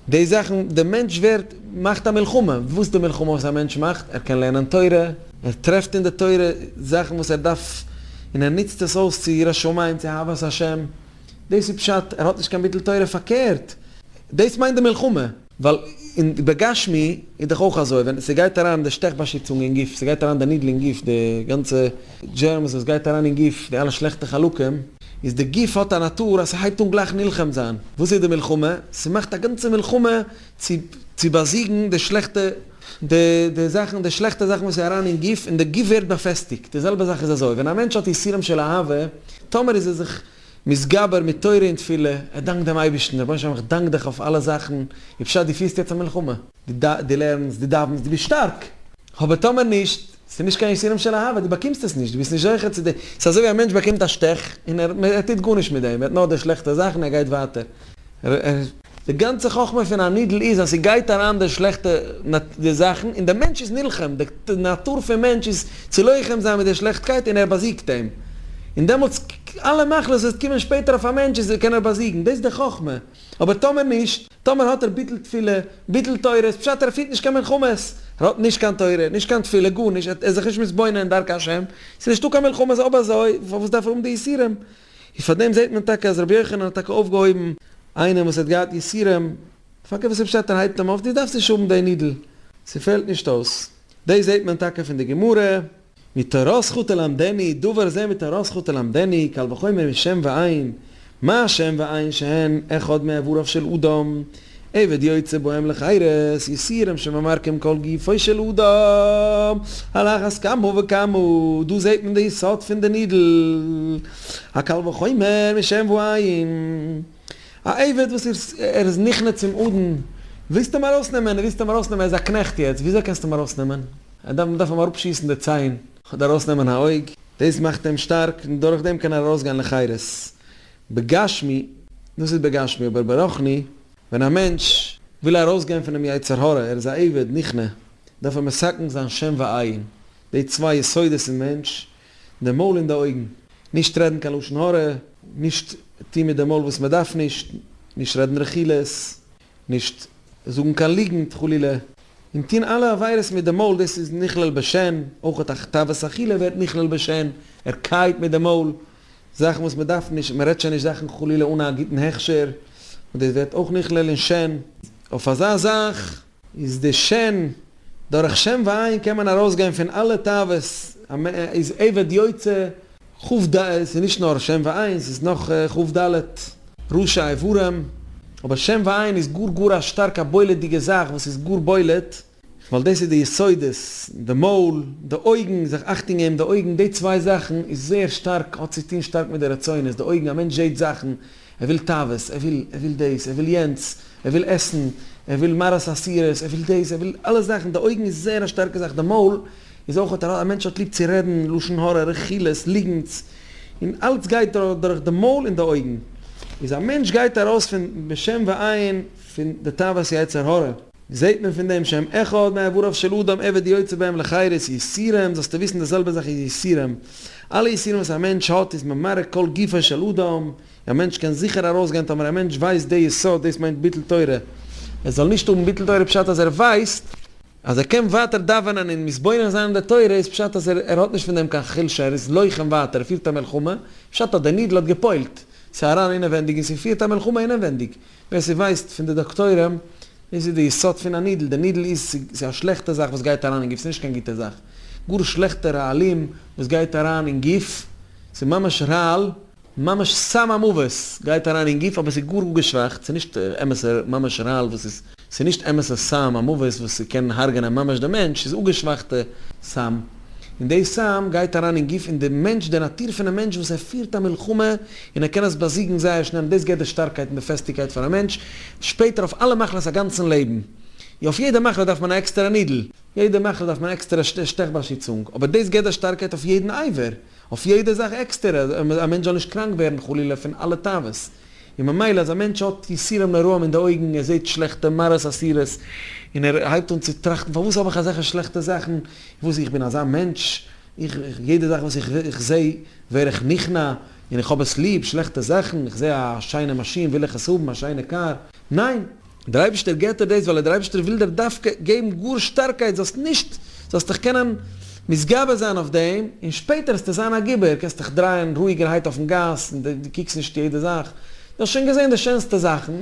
די זאכן, די מענטש ווערט, מאכט א מלחמה, וואס די מלחמה וואס א מענטש מאכט, ער קען לערנען תורה, ער טרעפט אין די תורה זאכן וואס ער דארף, און ער נוצט עס אויס צו יראת שמים, צו אהבת השם. דאס איז פשט ער האט נישט קיין ביטול תורה פארקערט דאס מיינט די מלחמה. ווייל אין בגשמי איז דאך אויך אזוי ווען ס'גייט אריין די שטעך באשיצונג אין גוף ס'גייט אריין די נידל אין גוף די גאנצע דזשערמס וואס גייט אריין אין גוף די אלע שלעכטע חלקים איז די גוף האט א נאטור אז ס'הייבט אן גלייך נלחם זיין וואס איז די מלחמה ס'מאכט א גאנצע מלחמה צו צו באזיגן די שלעכטע די די זאכן די שלעכטע זאכן וואס איז אריין אין גוף און די גוף ווערט באפעסטיגט די זעלבע זאך איז אזוי ווען א מענטש האט יסורים של אהבה טאמער איז ער זיך מתגבר מיט תורה און תפילה ער דאנקט דעם אייבערשטן רבונו של עולם איך דאנק דיך אויף אלע זאכן ווי פשט די פירסט יעצט א מלחמה די ד די לערנסט די דאווענסט די ביסט שטארק אבער טאמער נישט ס'איז נישט קיין יסורים של אהבה די באקומסט עס נישט די ביסט נישט זוכה צו די ס'אזוי ווי א מענטש באקומט א שטעך און ער ער טוט גארנישט מיט דעם ער האט נאר די שלעכטע זאכן ער גייט ווייטער. ר ר. די גאנצע חכמה פון א נידל איז אז ס'גייט אריין די שלעכטע די זאכן און די מענטש איז נלחם, די נאטור פון מענטש איז צו לוחם זיין מיט די שלעכטקייט און ער באזיגט אים. און דעמאלטס אלע מחלות וואס וועט קומען שפעטער אויף א מענטש איז קען ער באזיגן. דאס איז די חכמה. אבער טאמער נישט, טאמער האט ער ביטול תפילה, ביטול תורה, איז פשט ער פירט נישט קיין מלחמות. ער האט נישט קיין תורה, נישט קיין תפילה, גארנישט, ער איז זיך נישט מתבונן אין דרכי השם, ס'איז נישטא קיין מלחמות אויב אזוי פארוואס דארף ער האבן די יסורים? און פאר דעם זעט מען טאקע אז רבי יוחנן האט טאקע אויפגעהויבן איינעם וואס האט געהאט יסורים, פאר קבע סוף שטעטל הייבט אים אויף דו דארפסט נישט האבן דעי נידל, ס'פעלט נישט אויס. דאס זעט מען טאקע פון די גמרא. מתורה זכות תלמדני, דבר זה מתורה זכות תלמדני, קל וחומר משם ועין, מה שם ועין שהן אחד מאיבריו של אדם. עבד יוצא בהם לחירות, יסורים שממרקים כל גופו של אדם, על אחת כמה וכמה, דא זעהט מען די יסוד פון די נידל, הקל וחומר משם ועין, א עבד וואס ער איז נכנע צום אדון, ווילסט אים ארויסנעמען, ווילסט אים ארויסנעמען, ער איז א קנעכט יעצט, וויאזוי קענסטו אים ארויסנעמען, ער דארף, מען דארף אים אראפשיסן די ציין, אדער ארויסנעמען א אויג, דאס מאכט אים שטארק, און דורכדעם קען ער ארויסגיין לחירות, בגשמי, דאס איז בגשמי, אבער ברוחני, ווען א מענטש וויל ארויסגיין פונעם יצר הרע, ער איז א עבד, נכנע, דארף ער מסכן זיין שם ועין, די צוויי יסודות אין מענטש, די מויל און די אויגן, נישט רעדן קיין לשון הרע, נישט טון מיט די מויל וואס מען דארף נישט, נישט רעדן רכילות, נישט זאגן קיין ליגנט חלילה, און טון אלע עבירות מיט די מויל, דאס איז נכלל בשן, אויך א תאוות אכילה ווערט נכלל בשן, ער קייעט מיט די מויל, זאכן וואס מען דארף נישט, מען רעדט שוין נישט זאכן חלילה אן א גוטן הכשר, און דאס ווערט אויך נכלל אין שן. אויף אזא זאך איז די שן, דורך שן ועין קען מען ארויסגיין פון אלע תאוות, איז עבד יוצא. חב ד איז נישט נאר שם ועין, ס'איז נאך חב ד, ראשי איברים, אבער שם ועין איז גאר גאר א שטארק א בולט'דיגע זאך וואס איז גאר בולט, ווייל דאס איז די יסודות, די מויל, די אויגן, זיך אכטונג געבן די אויגן, די צוויי זאכן איז זייער שטארק, האט צו טון שטארק מיט די רצונות, די אויגן, א מענטש זעהט זאכן, ער וויל תאוות, ער וויל, ער וויל דאס, ער וויל יענץ, ער וויל עסן, ער וויל מראות אסירות, ער וויל דאס, ער וויל אלע זאכן, די אויגן איז זייער א שטארקע זאך, די מויל, איז אויך האט א מענטש האט ליב צו רעדן לשון הרע רכילות ליגנטס און אלץ גייט דורך די מויל און די אויגן איז א מענטש גייט ארויס פון בשם ועין פון די תאוות יצר הרע. זעהט מען פון דעם שם אחד מאיבריו של אדם עבד יוצא בהם לחירות יסורים זאלסטו וויסן די זעלבע זאך איז יסורים אלע יסורים וואס א מענטש האט איז ממרק כל גופו של אדם א מענטש קען זיכער ארויס גיין טאמער א מענטש ווייסט די יסוד דאס מיינט ביטול תורה ער זאל נישט האבן ביטול תורה פשט אז ער ווייסט אז ער קען ווייטער דאווענען און מתבונן זיין אין די תורה איז פשט אז ער האט נישט פון דעם קיין חולשה, ער איז לוחם ווייטער, ער פירט א מלחמה, פשט אז דער נידל האט געפוילט, ס'איז אריין אינעווענדיג און ס'פירט א מלחמה אינעווענדיג, ווער ס'ווייסט פון די דאקטוירים, דאס איז די יסוד פון א נידל, די נידל איז ס'איז א שלעכטע זאך וואס גייט אריין אין גוף, ס'איז נישט קיין גוטע זאך, גאר שלעכטע רעלים וואס גייט אריין אין גוף, ס'איז ממש רעל, ממש סם המוות גייט אריין אין גוף אבער ס'איז גאר גאר געשוואכט ס'איז נישט אמת'ע ממש רעל וואס איז ס'איז נישט אמת'ע סם המוות וואס ס'קען הרג'נען ממש די מענטש ס'איז אפגעשוואכטע סם און די סם גייט אריין אין גוף און די מענטש די נאטור פונעם מענטש וואס ער פירט א מלחמה און ער קען עס באזיגן זייער שנעל און דאס געבט די שטארקייט און די פעסטיגקייט פאר א מענטש שפעטער אויף אלע מחלות אגאנצן לעבן יא אויף יעדע מחלה דארף מען א עקסטערע נידל יעדע מחלה דארף מען עקסטערע שטעך באשיצונג אבער דאס געבט די שטארקייט אויף יעדן עבר. אויף יעדע זאך עקסטער, אז א מענטש זאל נישט קראנק ווערן חלילה פון אלע תאוות, און ממילא אז א מענטש האט יסורים נוראים אין די אויגן, ער זעט שלעכטע מראות אסורות, און ער הייבט אן צו טראכטן פארוואס האב איך אזעלכע שלעכטע זאכן, און וואס איך בין אזא מענטש, איך איך יעדע זאך וואס איך זע ווער איך נכנע, און איך האב עס ליב, שלעכטע זאכן, איך זע א שיינע מאשין וויל איך עס האבן, א שיינע קאר, ניין! דער אייבערשטער געט דיר דאס ווייל דער אייבערשטער וויל דיר דווקא געבן גאר שטארקייט זאלסט נישט זאלסט דיך קענען מתגבר זיין אויף דעם און שפעטער וועסטו זיין א גיבור קענסט דיך דרייען רואיגערהייט אויפן גאס און דו קוקסט נישט יעדע זאך דו האסט שוין געזען די שענסטע זאכן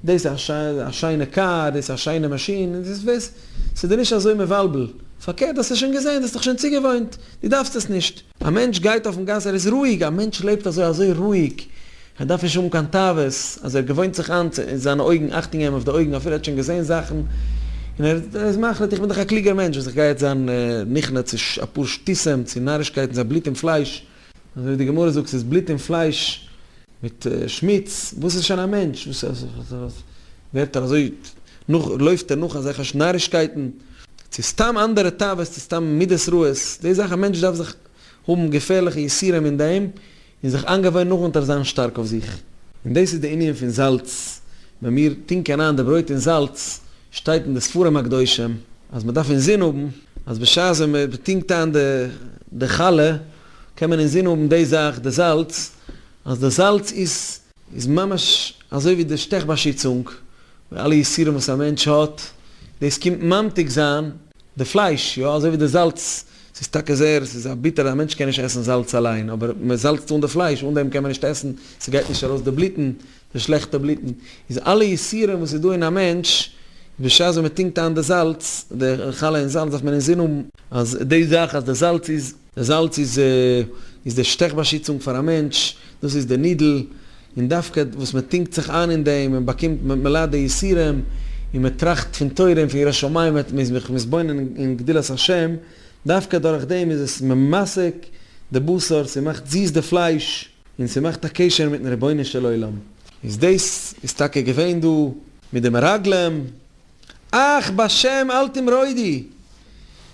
דאס איז א שיינע קאר דאס איז א שיינע מאשין און דאס וועסט ס'איז דיר נישט אזוי מבלבל פארקערט האסט עס שוין געזען דו האסט דיך שוין צוגעוואוינט דו דארפסט עס נישט. א מענטש גייט אויפן גאס, ער איז רואיג, א מענטש לעבט אזוי אזוי רואיג, ער דארף נישט האבן קיין תאוות, אז ער געוואוינט זיך איין צו זיינע אויגן, אכטונג געבן אויף די אויגן, אפילו ער האט שוין געזען זאכן, און ער איז מחליט איך בין דאך א קלוגער מענטש וואס איך גיי יעצט זיין נכנע צו אפאר שטותים, צו נארישקייטן, ס'איז בלוט און פלייש, אזוי ווי די גמרא זאגט ס'איז בלוט און פלייש, מיט שמוץ, וואס איז שוין א מענטש, וואס ווערט ער אזוי, נאך לויפט ער נאך אזעלכע נארישקייטן, צו סתם אנדערע תאוות, צו סתם מידות רעות, די זאך א מענטש דארף זיך האבן געפערליכע יסורים אין דעם, און זיך איינגעוואוינען נאך אונטער זיין שטארק אויף זיך. און דאס איז די ענין פון זאלץ, ווען מיר טונקען אריין די ברויט אין זאלץ, שטייט אין די ספרים הקדושים אז מען דארף אינזין האבן, אז בשעת ווען מען טונקט איין די חלה, קען מען אינזין האבן די זאך די זאלץ, אז די זאלץ איז איז ממש אזוי ווי די שטעך באשיצונג, די אלע יסורים וואס א מענטש האט, דאס קומט ממתיק זיין די פלייש, יא אזוי ווי די זאלץ, ס'איז טאקע זער ס'איז א ביטער א מענטש קען נישט עסן זאלץ אליין, אבער מען זאלצט אן די פלייש, אן דעם קען מען נישט עסן, ס'גייט נישט ארויס די בלוטן, די שלעכטע בלוטן, איז אלע יסורים וואס איז דא אין א מענטש, בשעת ווען מען טונקט איין די זאלץ, די חלה אין זאלץ דארף מען אינזין האבן, אז די זאך אז די זאלץ איז דער זאלץ איז איז די שטעך באשיצונג פאר א מענטש, דאס איז די נידל, און דווקא וואס מען טונקט זיך איין אין דעם, מען באקומט, מען ליידט די יסורים, און מען טראכט פון תורה און פון יראת שמים, מען איז זיך מתבונן אין גדולת השם, דווקא דורך דעם איז עס ממתק די בשר, ס'מאכט זיס די פלייש, און ס'מאכט א קשר מיט'ן רבונו של עולם. איז דאס איז טאקע געווען דא מיט די מרגלים. אך בשם אל תמרודי,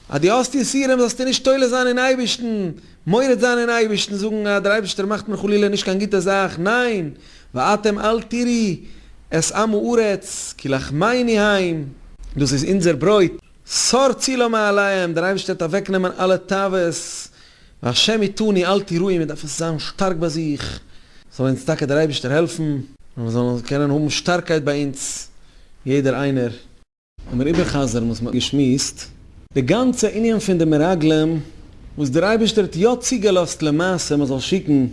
אז דו האסט יסורים זאלסטו נישט תולה זיין אין אייבערשטן, מורד זיין אין אייבערשטן, זאגן אז דער אייבערשטער מאכט מיר חלילה נישט קיין גוטע זאך, ניין, ואתם אל תראי את עם הארץ כי לחמני הם, דאס איז אונזער ברויט, סור צילא מעליהם, דער אייבערשטער וועט אוועקנעמען אלע תאוות והשם איתני אל תיראי מען דארף עס זיין שטארק ביי זיך, זאל אונז טאקע דער אייבערשטער העלפן, אז מיר זאלן קענען האבן שטארקייט ביי אונז יעדער איינער. לאמיר איבערחזר'ן וואס מען האט געשמועסט. די גאנצע ענין פון די מרגלים, וואס דער אייבערשטער האט יא צוגעלאזט למעשה מען זאל שיקן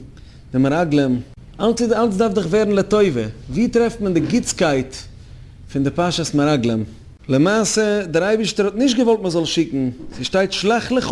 די מרגלים, אלץ איז אלץ דארף דאך ווערן לטובה, ווי טרעפט מען די גוטסקייט פון די פרשת מרגלים? למעשה דער אייבערשטער האט נישט געוואלט מען זאל שיקן, ס'שטייט שלח לך,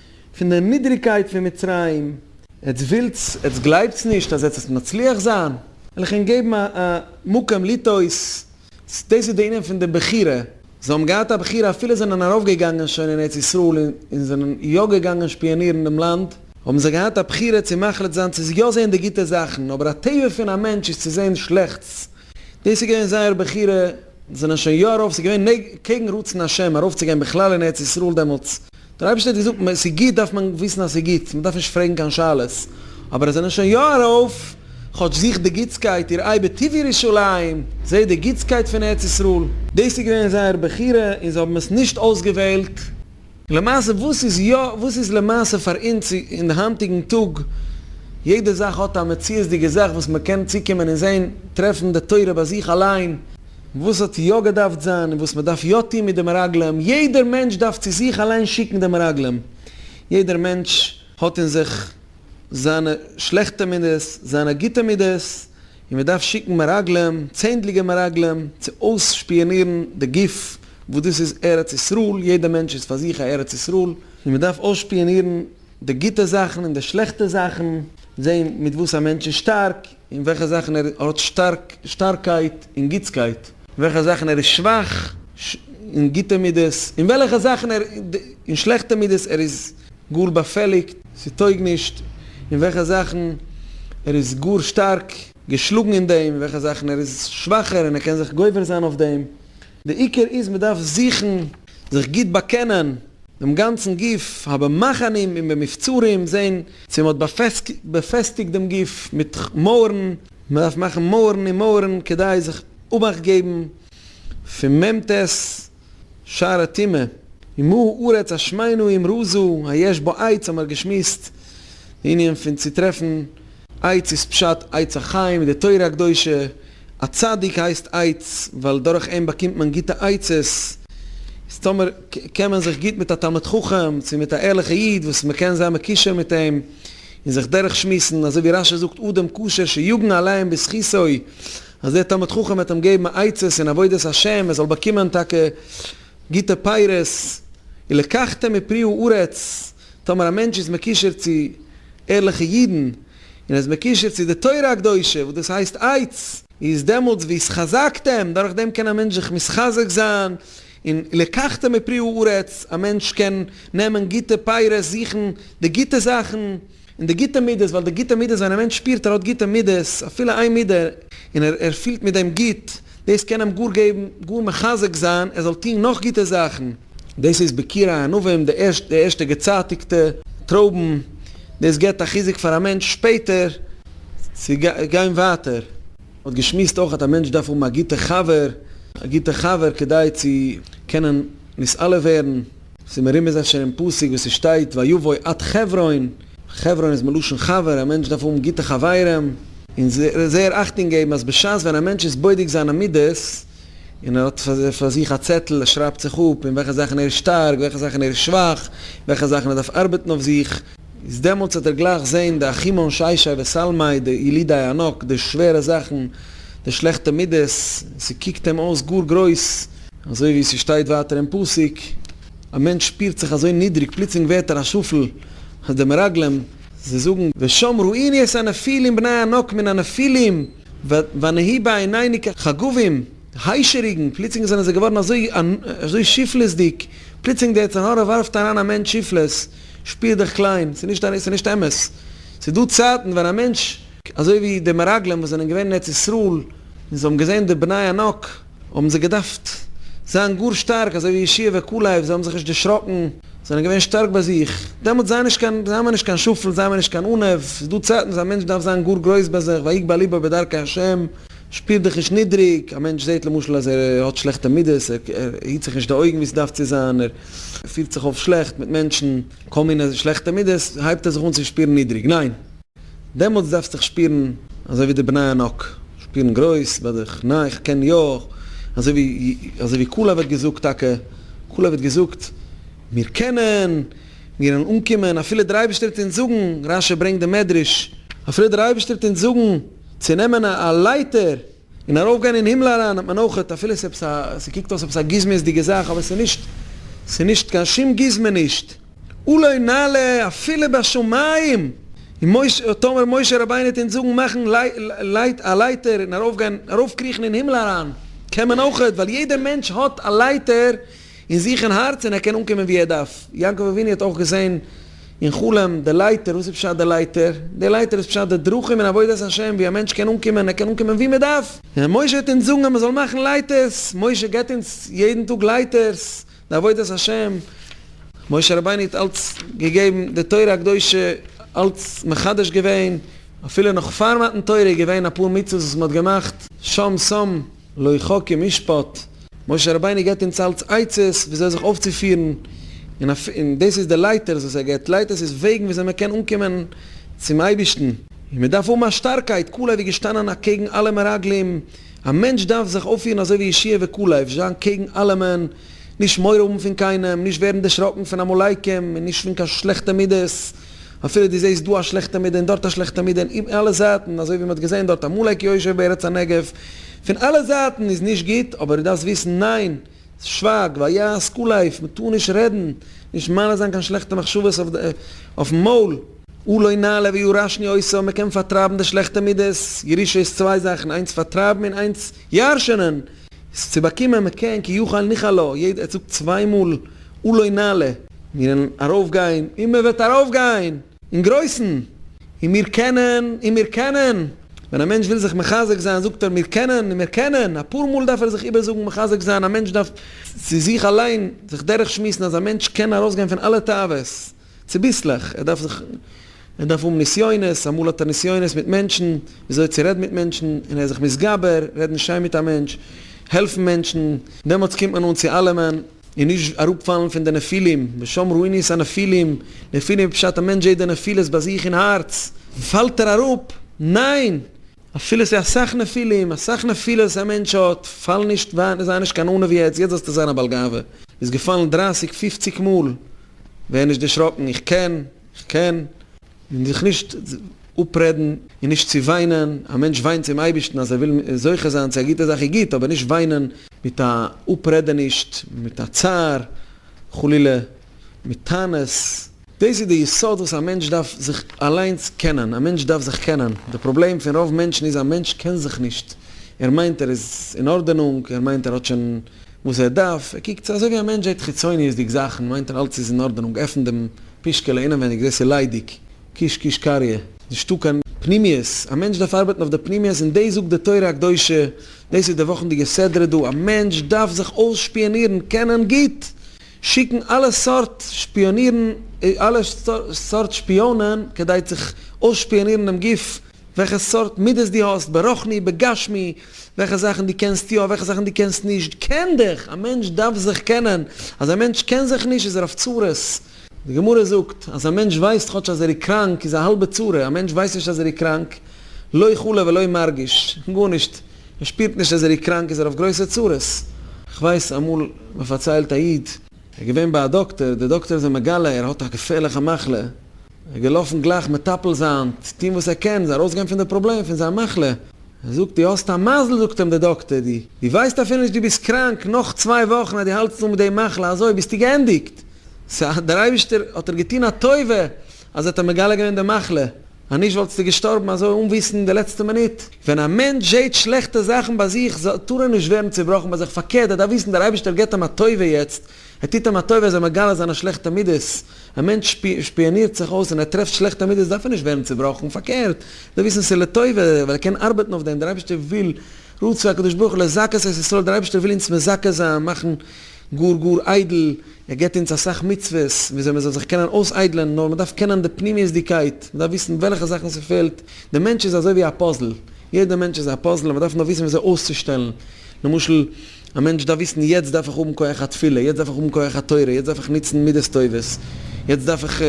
פון די נידריגקייט פון מצרים. עטס ווילטס, עטס גלייבטס נישט אז עטס וועט מצליח זיין? וועל איך אינק געבן א מקום לטעות. דאס איז די ענין פון די בחירה. זיי האבן געהאט א בחירה אפילו זיי זענען ארויפגעגאנגען שוין אין ארץ ישראל און זענען יא געגאנגען שפיאנירן דעם לאנד, האבן זיי געהאט א בחירה צו מחליט זיין צו יא זען די גוטע זאכן, אבער א טבע פון א מענטש איז צו זען שלעכטס. דאס איז געווען זייער בחירה. זיי זענען שוין יא ארויף, ס'איז געווען קעגן רצון השם ארויפצוגיין בכלל אין ארץ ישראל דעמאלטס, דער אייבערשטער האט געזאגט מען ס'איז גוט דארף מען וויסן אז ס'איז גוט, מען דארף נישט פרעגן קיין שאלות, אבער עס זענען שוין יא ארויף, כאטש זוך די גוטסקייט איר איי בטוב ירושלים, זעה די גוטסקייט פון ארץ ישראל. דאס איז געווען זייער בחירה און זיי האבן עס נישט אויסגעוועלט. למעשה וואס איז יא, וואס איז למעשה פאר אונז אין די היינטיגן טאג, יעדע זאך האט א מציאות'דיגע זאך וואס מען קען צוקומען און זען, טרעפן די תורה ביי זיך אליין, וואס האט יא געדארפט זיין און וואס מען דארף יא טון מיט די מרגלים, יעדער מענטש דארף צו זיך אליין שיקן די מרגלים, יעדער מענטש האט אין זיך זיינע שלעכטע מידות, זיינע גוטע מידות, און מען דארף שיקן מרגלים, צענדליגע מרגלים, צו אויסשפיאנירן די גוף וואס דאס איז ארץ ישראל, יעדער מענטש איז פאר זיך א ארץ ישראל, און מען דארף אויסשפיאנירן די גוטע זאכן און די שלעכטע זאכן, זען מיט וואס א מענטש איז שטארק, אין וועלכע זאכן ער האט שטארק, שטארקייט און גוטסקייט, אין וועלכע זאכן ער איז שוואך, אין גוטע מידות, אין וועלכע זאכן ער, אין שלעכטע מידות, ער איז גאר באפעליגט, ס'טויג נישט, אין וועלכע זאכן ער איז גאר שטארק, געשלאגן אין דעם, אין וועלכע זאכן ער איז שוואכער און ער קען זיך גובר זיין אויף דעם, די עיקר איז מען דארף זוכן זיך גוט באקענען דעם גאנצן גוף, האבן מחנים און במבצרים זען צו מען האט באפעסטיגט דעם גוף מיט מויערן, מען דארף מאכן מויערן און מויערן כדי זיך אבאכט געבן פון מ ט שער הטומאה, ומה הארץ אשמינו אמרו זו היש בה עץ האבן מיר געשמועסט די ענין פון צוטרעפן עץ איז פשט עץ החיים אין די תורה הקדושה, א צדיק הייסט עץ ווייל דורך אים באקומט מען גוטע עצות, איז טאמער קען מען זיך גוט מיט א תלמיד חכם צו מיט א ערליכע איד וואס מען קען זיין מקושר מיט אים און זיך דורך שמועסן, אזוי ווי רשי זאגט אדם קשר שיגן עליהם בזכותו, אז דער תלמיד חכם וועט אים געבן עצות אין עבודת השם ער זאל באקומען טאקע גוטע פירות, און לקחתם מפרי הארץ, טאמער א מענטש איז מקושר צו ערליכע אידן און ער איז מקושר צו די תורה הקדושה וואס דאס הייסט איידס, איז דעמאלטס ווי עס חזק'ט אים, דורך דעם קען א מענטש זיך מתחזק זיין, און לקחת מפרי הארץ, א מענטש קען נעמען גוטע פירות, זוכן די גוטע זאכן, און די גוטע מידות, ווייל די גוטע מידות ווען א מענטש שפירט ער האט גוטע מידות, אפילו איין מידה, און ער פילט מיט דעם גוט, דאס קען אים גאר געבן, גאר מחזק זיין ער זאל טון נאך גוטע זאכן. דאס איז בקיר הענבים, די ערשטע געצייטיגטע טרויבן, דאס געבט א חיזוק פאר א מענטש שפעטער צו גיין ווייטער. מען האט געשמועסט אויך אז א מענטש דארף האבן א גוטע חבר, א גוטע חבר כדי צו קענען נתעלה ווערן, ס'איז מרומז אפשר אין פסוק וואס ס'שטייט ויבוא עד חברון. חברון איז מלשון חבר, א מענטש דארף האבן גוטע חברים, און זייער אכטונג געבן אז בשעת ווען א מענטש איז בודק זיינע מידות, און ער האט פאר זיך א צעטל, ער שרייבט זיך אפ אין וועלכע זאכן ער איז שטארק, וועלכע זאכן ער איז שוואך, אין וועלכע זאכן ער דארף ארבעטן אויף זיך, איז דעמאלטס וועט ער גלייך זען די אחים אנשי שי וסלמאי, די ילידי הענק, די שווערע זאכן, די שלעכטע מידות, און ס'קוקט אים אויס גאר גרויס, אזוי ווי ס'שטייט ווייטער אין פסוק. א מענטש שפירט זיך אזוי נידריג, פלוצלינג ווערט ער א שפל אז די מרגלים, זיי זאגן, ושם ראיני את הנפילים בני הענק מן הנפילים, ונהי בעיניני כחגבים, היישעריגן, פלוצלינג זענען זיי געווארן אזוי שפלות'דיג, פלוצלינג די יצר הרע ווארפט אריין א מענטש שפלות, שפיר דיך קליין, ס'איז נישט אמת, ס'איז דא צייטן ווען א מענטש, אזוי ווי די מרגלים וואס זענען געווען אין ארץ ישראל און זיי האבן געזען די בני הענק, האבן זיי געדארפט זיין גאר שטארק, אזוי ווי ישעי' וכו', זיי האבן זיך נישט דערשראקן, זענען געווען שטארק ביי זיך, דעמאלטס זיי נישט קיין, זיי האבן נישט קיין שפל, זיי האבן נישט קיין אנהב, עס איז דא צייטן וואס א מענטש דארף זיין גאר גרויס ביי זיך, ויגבה לבו בדרכי השם, שפיר דיך נישט נידריג, א מענטש זעט למשל אז ער האט שלעכטע מידות, ער היט זיך נישט די אויגן ווי עס דארף צו זיין, ער פירט זיך אויף שלעכט מיט מענטשן, כל מיני שלעכטע מידות, הייבט ער זיך אן צו שפירן נידריג, ניין! דעמאלטס דארפסט דיך שפירן אזוי ווי די בני ענק שפירן גרויס ביי זיך, ניין איך קען יא, אזוי ווי אזוי ווי קאלעב האט געזאגט טאקע, קאלעב האט געזאגט מיר קענען, מיר וועלן אנקומען אפילו דער אייבערשטער וועט אונז זאגן, רשי ברענגט די מדרש, אפילו דער אייבערשטער וועט אונז זאגן צו נעמען א א לייטער און ארויף גיין אין הימל אריין האט מען אויך, אפילו עס איז עפעס א, עס קוקט אויס עפעס א גוזמאות דיגע זאך אבער עס איז נישט, עס איז נישט קיין שום גוזמה נישט. אולי נעלה אפילו בשמים, און משה האט טאמער משה רבינו טון זאגן מאכן לייט א לייטער און ארויף גיין ארויף קריכן אין הימל אריין קען מען אויך ווייל יעדער מענטש האט א לייטער אין זיך אין הארץ און ער קען אנקומען ווי ער דארף יעקב אבינו האט אויך געזען אין חלום די לייטער וואס איז פשט די לייטער די לייטער איז פשט די דרכים אין עבודת השם ווי א מענטש קען אנקומען און ער קען אנקומען ווי מען דארף און משה האט אונז זאגן אז מען זאל מאכן לייטערס משה געבט אונז יעדן טאג לייטערס. די עבודת השם, משה רבינו האט אלץ געגעבן די תורה הקדושה, אלץ מחדש געווען, אפילו נאך פאר מתן תורה איז געווען אפאר מצוות וואס מען האט געמאכט, שם שם, לא יחא כמשפט, משה רבינו געבט אונז אלץ עצות וויאזוי זיך אויפצופירן, און דאס איז די לייטערס וואס ער געבט, לייטערס איז וועגן וויאזוי מען קען אנקומען צום אייבערשטן, און מען דארף האבן א שטארקייט, כלא ווי געשטאנען אקעגן אלע מרגלים. א מענטש דארף זיך אויפפירן אזוי ווי ישעי' וכו', עפש זיין קעגן אלעמען, נישט מורא האבן פון קיינעם, נישט ווערן דערשראקן פון עמלקים, און נישט פון קיין שלעכטע מידות, אפילו דו זעסט דא א שלעכטע מידה און דארט א שלעכטע מידה, און אין אלע זייטן, אזוי ווי מען האט געזען דארט עמלק יושב בארץ הנגב, פון אלע זייטן איז נישט גוט, אבער דו דארפסט וויסן, ניין! שווייג, ווייל יא, סקול לייף, מען טאר נישט רעדן, נישט מעלה זיין קיין שלעכטע מחשבות אויפן מויל. או לא נעלה ואו רשני עושה, מען קען פארטרייבן די שלעכטע מידות, ירושה איז צוויי זאכן, איינס פארטרייבן און איינס ירש'נען, צו באקומען, מען קען, כי יוכל ניחא לו, יעדער זאגט צוויי מאל או לא נעלה, מיר וועלן ארויף גיין, און מען וועט ארויף גיין! אין גרויסן, און מיר קענען, און מיר קענען. ווען א מענטש וויל זיך מחזק זיין זאגט ער מיר קענען, און מיר קענען. אפאר מאל דארף ער זיך איבערזאגן, מחזק זיין, א מענטש דארף צו זיך אליין זיך דורך שמועסן אז א מענטש קען ארויסגיין פון אלע תאוות צוביסלעך, ער דארף זיך, ער דארף האבן נסיונות, אמאל האט ער נסיונות מיט מענטשן, ווי אזוי צו רעדן מיט מענטשן, און ער איז זיך מתגבר, רעדן שיין מיט א מענטש, העלפן מענטשן, דעמאלטס קומט מען אן צו אלעמען. און נישט אראפפאלן פון די נפילים, ושם ראיני את הנפילים, נפילים איז פשט א מענטש זעהט די נפילות ביי זיך אין הארץ, פאלט ער אראפ, ניין! אפילו ס'איז אסאך נפילים, אסאך נפילות א מענטש האט, פאל נישט, זיי נישט קיין ענו יעצט, יעצט זאלסטו זיין א בעל גאווה, איז געפאלן דרייסיג פופציג מאל, ווער נישט דערשראקן, איך קען, איך קען, און זיך נישט אפרעדן און נישט צו וויינען, א מענטש וויינט צום אייבערשטן אז ער וויל זוכה זיין צו א גוטע זאך איז גוט, אבער נישט וויינען מיט א אפרעדענישט, מיט א צער, חלילה, מיט טענות, דאס איז די יסוד וואס א מענטש דארף זיך אליינס קענען, א מענטש דארף זיך קענען, די פראבלעם פון רוב מענטשן איז א מענטש קען זיך נישט, ער מיינט ער איז אין ארדענונג, ער מיינט ער האט שוין וואס ער דארף, ער קוקט אזוי ווי א מענטש זעט חיצוניות'דיג זאכן מיינט ער אלץ איז אין ארדענונג, עפנט דעם פישקעלע אינעווייניג דאס איז ליידיג, קיש קיש קריא, נישטא קיין פנימיות, א מענטש דארף ארבעטן אויף די פנימיות און דאס זאגט די תורה הקדושה, דאס איז די וואכנדיגע סדרה דא, א מענטש דארף זיך אויסשפיאנירן, קענען גוט שיקן אלע סארט שפיאנירן, אלע סארט שפיאנען כדי צו אויסשפיאנירן דעם גוף וועלכע סארט מידות דו האסט ברוחני בגשמי, וועלכע זאכן דו קענסט יא, וועלכע זאכן דו קענסט נישט, קען דיך! א מענטש דארף זיך קענען, אז א מענטש קען זיך נישט איז ער אויף צרות. די גמרא זאגט, אז א מענטש ווייסט כאטש אז ער איז קראנק איז א האלבע צרה, א מענטש ווייסט נישט אז ער איז קראנק, לא חלה ולא מרגיש, גארנישט, ער שפירט נישט אז ער איז קראנק איז ער אויף גרויסע צרות. כ'ווייס אמאל מ'פארציילט א איד. ער איז געווען ביי א דאקטער, דער דאקטער איז אים מגלה ער האט א געפערליכע מחלה, איז געלאפן גלייך מטפל זיין, טון וואס ער קען, זיי ארויסגיין פון די פראבלעם, פון זיין מחלה. ער זאגט, דו האסט א מזל, זאגט אים דער דאקטער, דו דו ווייסט אפילו נישט דו ביסט קראנק, נאך צוויי וואכן אז דו האלטסט אן מיט די מחלה, אזוי ביסטו געענדיגט. סא דער אייבישטער האט דיר געטון א טובה אז ער האט דיר מגלה געווען די מחלה, אז נישט וואלטסטו געשטארבן אזוי אן וויסן אין די לעצטע מינוט. ווען א מענטש זעט שלעכטע זאכן ביי זיך, טאר ער נישט ווערן צעבראכן ביי זיך, פארקערט, ער דארף וויסן דער אייבישטער געבט אים א טובה יעצט, ער טוט אים א טובה, ער זאל מגלה זיין א שלעכטע מידות. א מענטש שפיאנירט זיך אויס און ער טרעפט שלעכטע מידות דארף ער נישט ווערן צובראכן, פארקערט, ער זאל וויסן ס'איז לטובה, ווייל ער קען ארבעטן אויף דעם, דער אייבערשטער וויל, רצה הקדוש ברוך הוא לזכות את ישראל, דער אייבערשטער וויל אונז מזכה זיין, מאכן גאר גאר איידל, ער געבט אונז אסאך מצוות, וויאזוי מ'זאל זיך קענען אויסאיידלען, נאר מ'דארף קענען די פנימיות'דיגקייט, מ'דארף וויסן וועלכע זאכן ס'פעלט, דער מענטש איז אזוי ווי א פאזל, יעדער מענטש איז א פאזל און מ'דארף נאר וויסן וויאזוי אויסצושטעלן, למשל. א מענטש דארף וויסן, יעצט דארף איך האבן כח התפילה, יעצט דארף איך האבן כח התורה, יעצט דארף איך נוצן מידות טובות, יעצט דארף איך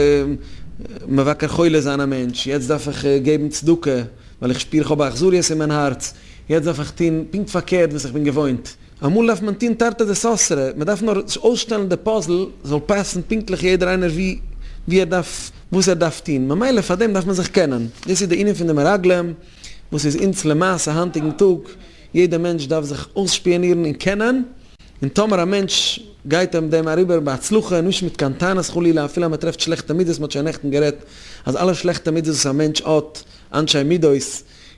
מבקר חולה זיין א מענטש, יעצט דארף איך געבן צדקה ווייל איך שפיר איך האב א אכזריות אין מיין הארץ, יעצט דארף איך טון פונקט פארקערט וואס איך בין געוואוינט. אמאל דארף מען טון תרתי דסתרי, מען דארף נאר אויסשטעלן די פאזל זאל פאסן פונקטליך יעדער איינער ווי ער דארף, וואס ער דארף טון, ממילא פאר דעם דארף מען זיך קענען, דאס איז די ענין פון די מרגלים וואס איז אונז למעשה היינטיגן טאג, יעדע מענטש דארף זיך אויסשפיאנירן און קענען, און טאמער א מענטש גייט אים דעם אריבער בהצלחה, און נישט מיט קיין טענות חלילה, אפילו אז מען טרעפט שלעכטע מידות, מען האט שוין נעכטן גערעדט אז אלע שלעכטע מידות וואס א מענטש האט, אנשי מידות,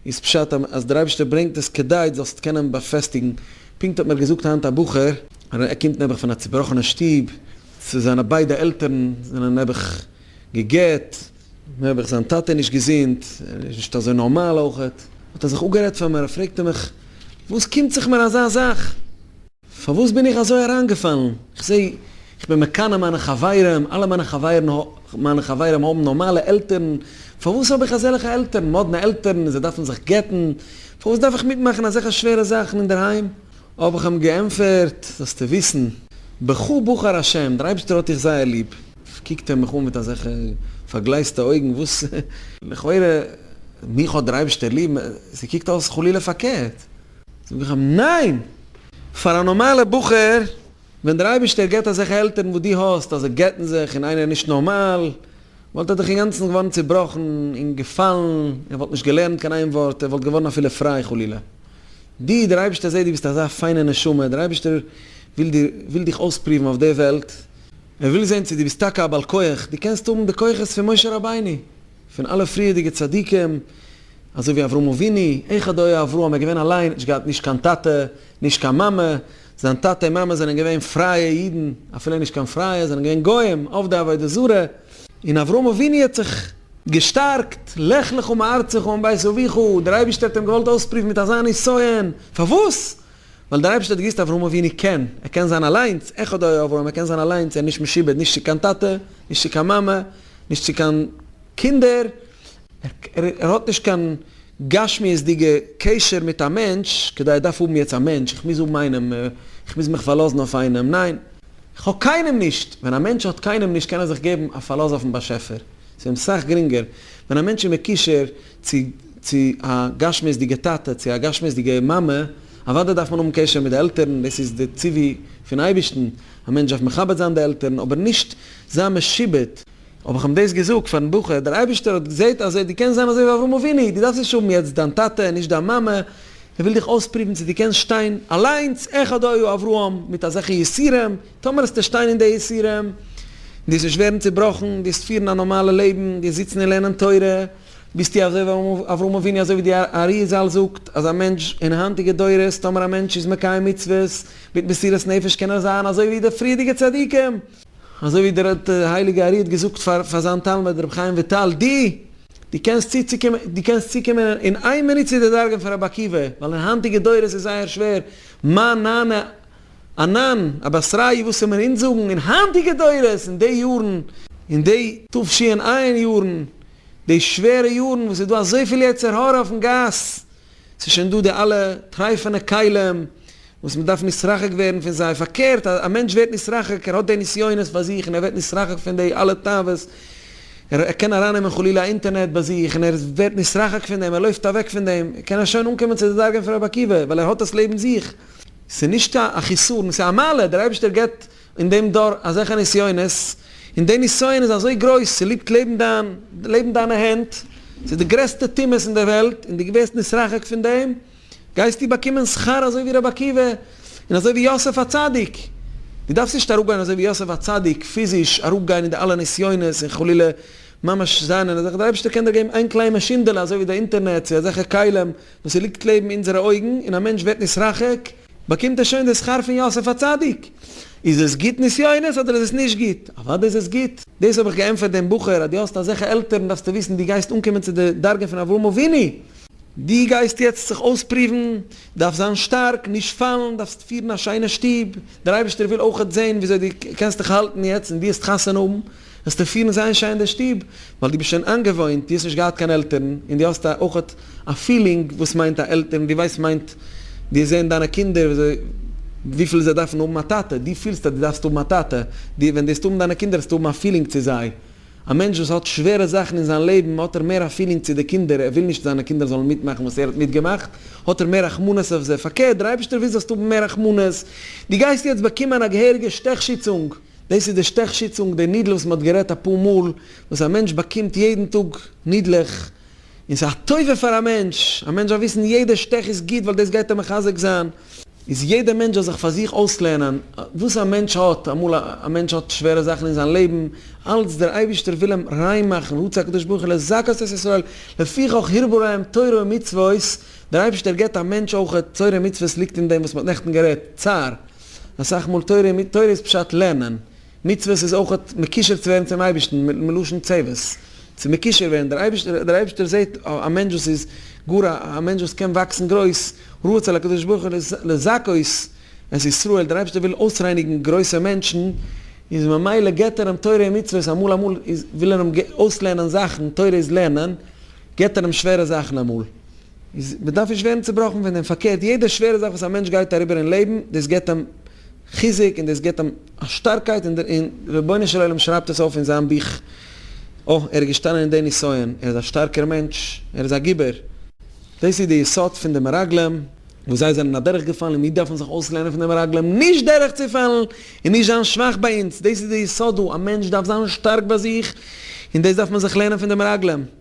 איז פשט אז דער אייבערשטער ברענגט עס כדי דו זאלסט קענען באפעסטיגן, פונקט האט מיר געזאגט היינט א בחור, ער קומט נעבעך פון א צובראכענע שטוב, זיינע ביידע עלטערן זענען נעבעך גע'גט, נעבעך זיין טאטע איז נישט געזונט, ער איז נישט אזוי נארמאל אויכעט, האט ער זיך אפגערעדט פאר מיר, פרעגט ער מיך, וואס קומט זיך מיר אזא זאך? פארוואס בין איך אזוי אריינגעפאלן? איך זע, איך בין מקנא מיינע חברים, אלע מיינע חברים מיינע חברים האבן נארמאלע עלטערן, פארוואס האב איך אזעלעכע עלטערן, מאדנע עלטערן, זיי דארפן זיך גט'ן, פארוואס דארף איך מיטמאכן אזעלכע שווערע זאכן אינדערהיים? האב איך אים געענטפערט, זאלסטו וויסן, בחור בחר השם, דער אייבערשטער האט דיך זייער ליב. קוקט ער מיך אן מיט אזעלכע פארגלייזטע אויגן, וואס? לכאורה, מיך האט דער אייבערשטער ליב, ס'קוקט אויס חלילה פארקערט. זאג איך אים, ניין! פאר א נארמאלע בחור, ווען דער אייבערשטער געבט אזעלכע עלטערן וואס דו האסט, אז זיי גט'ן זיך און איינער איז נישט נארמאל, וואלט ער דאך אינגאנצן געווארן צעבראכן און געפאלן, ער וואלט נישט געלערנט קיין איין ווארט, ער וואלט געווארן אפילו פריי חלילה. דו, דער אייבערשטער זעט דו ביסט אזא פיינע נשמה, דער אייבערשטער וויל דיר, וויל דיך אויספרואוון אויף די וועלט, ער וויל זען צו דו ביסט טאקע א בעל כח, דו קענסט האבן די כוחות פון משה רבינו, פון אלע פריערדיגע צדיקים, אזוי ווי אברהם אבינו, איך הדור אברהם, ער איז געווען אליין, נישט געהאט נישט קיין טאטע, נישט קיין מאמע, זיין טאטע און מאמע זענען געווען פרייע אידן, אפילו נישט קיין פרייע, זענען געווען גוים, עובדי עבודה זרה, און אברהם אבינו האט זיך געשטארקט, לך לך מארצך ומבית אביך, דער אייבערשטער האט אים געוואלט אויספריוון מיט אזא נסיון, פארוואס? ווייל דער אייבערשטער האט געוואוסט אברהם אבינו קען, ער קען זיין אליינס, אחד היה אברהם, ער קען זיין אליינס, ער איז נישט משועבד נישט צו קיין טאטע, נישט צו קיין מאמע, נישט צו קיין קינדער, ער ער האט נישט קיין גשמיות'דיגע קשר מיט א מענטש, כדי איך דארף האבן יעצט א מענטש, איך מוז האבן איינעם, איך מוז מיך פארלאזן אויף איינעם, ניין, איך האב קיינעם נישט, ווען א מענטש האט קיינעם נישט קען ער זיך געבן א פארלאז אויפן באשעפער, ס'איז אים סאך גרינגער, ווען א מענטש איז מקושר. צו צו א גשמיות'דיגע טאטע, צו א גשמיות'דיגע מאמע, אוודאי דארף מען האבן קשר מיט די עלטערן, דאס איז די ציווי פון אייבערשטן, א מענטש דארף מכבד זיין די עלטערן, אבער נישט זיין משועבד. האב איך אים דאס געזאגט פארן בחור, דער אייבערשטער האט געזעט אז דו קענסט זיין אזוי ווי אברהם אבינו, דו דארפסט נישט האבן יעצט דיין טאטע און נישט דיין מאמע, ער וויל דיך אויספרובן צו דו קענסט שטיין אליינס, אחד היה אברהם, מיט אזעלכע יסורים, טאמער האסטו שטיין אין די יסורים, דו וועסט נישט ווערן צובראכן, דו וועסט פירן א נארמאלע לעבן, דו וועסט זיצן און לערנען תורה, ביסט די אזוי ווי אברהם אבינו אזוי ווי די ארי זל זאגט אז א מענטש אין היינטיגע דורות טאמער א מענטש איז מקיים מצוות מיט מסירת נפש קען ער זיין אזוי ווי די פריערדיגע צדיקים, אזוי ווי דער הייליגע ארי האט געזאגט פאר פאר זיין תלמיד רבי חיים וויטאל די די קענסט צו צוקומען די קענסט צוקומען אין איין מינוט צו די דרגה פון רבי עקיבא ווייל אין היינטיגע דורות איז זייער שווער מה נענה א ניין, א בעסריי וואס זאל מען אונז זאגן אין היינטיגע דורות אין די יארן, אין די תשי און עיין יארן, די שווערע יארן וואס איז דא אזויפיל יצר הרע אויפן גאס, ס'איז שוין דא די אלע טרייפענע כלים וואס מען דארף נתרחק ווערן פון זיי, פארקערט א א מענטש ווערט נתרחק, ער האט די נסיונות ביי זיך און ער ווערט נתרחק פון די אלע תאוות, ער ער קען ארייננעמען חלילה א אינטערנעט ביי זיך און ער ווערט נתרחק פון דעם, ער לויפט אוועק פון דעם, קען ער שוין אנקומען צו די דרגה פון רבי עקיבא, ווייל ער האט עס לעבן זיך. ס'איז נישט קיין א חיסרון, ס'איז א מעלה, דער אייבערשטער געבט אין דעם דור אזעלכע נסיונות, און די נסיון איז אזוי גרויס, ס'ליגט לעבן דיין, לעבן דיינע הענט, ס'איז די גרעסטע טומאת אין דער וועלט, און דו ווערסט נתרחק פון דעם, גייסטו באקומען שכר אזוי ווי רבי עקיבא, און אזוי ווי יוסף הצדיק. דו דארפסט נישט אראפגיין אזוי ווי יוסף הצדיק, פיזיש אראפגיין אין די אלע נסיונות און חלילה ממש זיין אין אזעלכע, דער אייבערשטער קען דיר געבן איין קליין מאשינדעלע אזוי ווי די אינטערנעט צו אזעלכע כלים, וואס עס ליגט לעבן אונזערע אויגן, און א מענטש ווערט נתרחק, באקומט ער שוין די שכר פון יוסף הצדיק. איז עס גוט נסיונות אדער איז עס נישט גוט? אוודאי איז עס גוט. דאס האב איך געענטפערט דעם בחור, אז דו האסט אזעלכע עלטערן דארפסטו וויסן דו גייסט אנקומען צו די דרגה פון אברהם אבינו, דו גייסט יעצט זיך אויספרואוון, דארפסט זיין שטארק, נישט פאלן, דארפסט פירן א שיינע שטוב, דער אייבערשטער וויל אויכעט זען וויאזוי דו קענסט דיך האלטן יעצט און דו העסט חתונה האבן, וועסטו פילן זייער שיין אין די שטוב, ווייל דו ביסט שוין איינגעוואוינט, דו האסט נישט געהאט קיין עלטערן, און דו האסט אויך א פילינג וואס מיינט א עלטערן, דו ווייסט מיינט, דו האסט זעהן דיינע קינדער וויפיל זיי דארפן האבן א טאטע, דו פילסט אז דו דארפסט האבן א טאטע, דו ווען דו וועסט האבן דיינע קינדער וועסטו האבן א פילינג צו זיי, א מענטש וואס האט שווערע זאכן אין זיין לעבן האט ער מער א פילינג צו די קינדער, ער וויל נישט זיינע קינדער זאלן מיטמאכן וואס ער האט מיטגעמאכט, האט ער מער רחמנות אויף זיי, פארקערט דער אייבערשטער וויל זאלסט האבן מער רחמנות, דו גייסט יעצט באקומען א געהעריגע שטעכשיצונג, דאס איז די שטעך שיצונג, די נידל וואס מען האט גערעדט אפאר מאל, וואס א מענטש באקומט יעדן טאג נידלעך, און ס'איז א טובה פאר א מענטש, א מענטש זאל וויסן יעדע שטעך איז גוט ווייל דאס גייט אים מחזק זיין, איז יעדע מענטש זאל זיך פאר זיך אויסלערנען וואס א מענטש האט, אמאל א מענטש האט שווערע זאכן אין זיין לעבן, אלץ דער אייבערשטער וויל אים ריין מאכן, ה' צה הקדוש ברוך הוא לזכות את ישראל, לפיכך הרבו להם תורה ומצוות, דער אייבערשטער געבט א מענטש אויך, תורה ומצוות ליגט אין דעם וואס מען האט נעכטן גערעדט, צער. אסאך מאל תורה מיט תורה איז פשט לערנען, מצוות איז אויך מקושר צו ווערן צום אייבערשטן, מלשון צוות, צו מקושר ווערן, דער אייבערשטער דער אייבערשטער זעט א מענטש וואס איז גאר א מענטש וואס קען וואקסן גרויס, רצה לקדוש ברוך הוא לזכות את ישראל, דער אייבערשטער וויל אויסרייניגן גרויסע מענטשן, איז ממילא געבט ער אים תורה און מצוות, אמאל אמאל איז וויל ער אים אויסלערנען זאכן, תורה איז לערנען, געבט ער אים שווערע זאכן אמאל, איז מען דארף נישט ווערן צובראכן פון דעם, פארקערט יעדע שווערע זאך וואס א מענטש גייט אריבער אין לעבן, דאס געבט אים חיזוק און דאס געבט אים א שטארקייט און דער רבונו של עולם שרייבט עס אויף אין זיין בוך, אוי ער איז געשטאנען אין די נסיון, ער איז א שטארקער מענטש, ער איז א גיבור. דאס איז די יסוד פון די מרגלים, וואס זיי זענען אדורך געפאלן און מיר דארפן זיך אויסלערנען פון די מרגלים נישט דורך צו פאלן און נישט זיין שוואך ביי אונז, דאס איז די יסוד דא, א מענטש דארף זיין שטארק ביי זיך און דאס דארף מען זיך לערנען פון די מרגלים.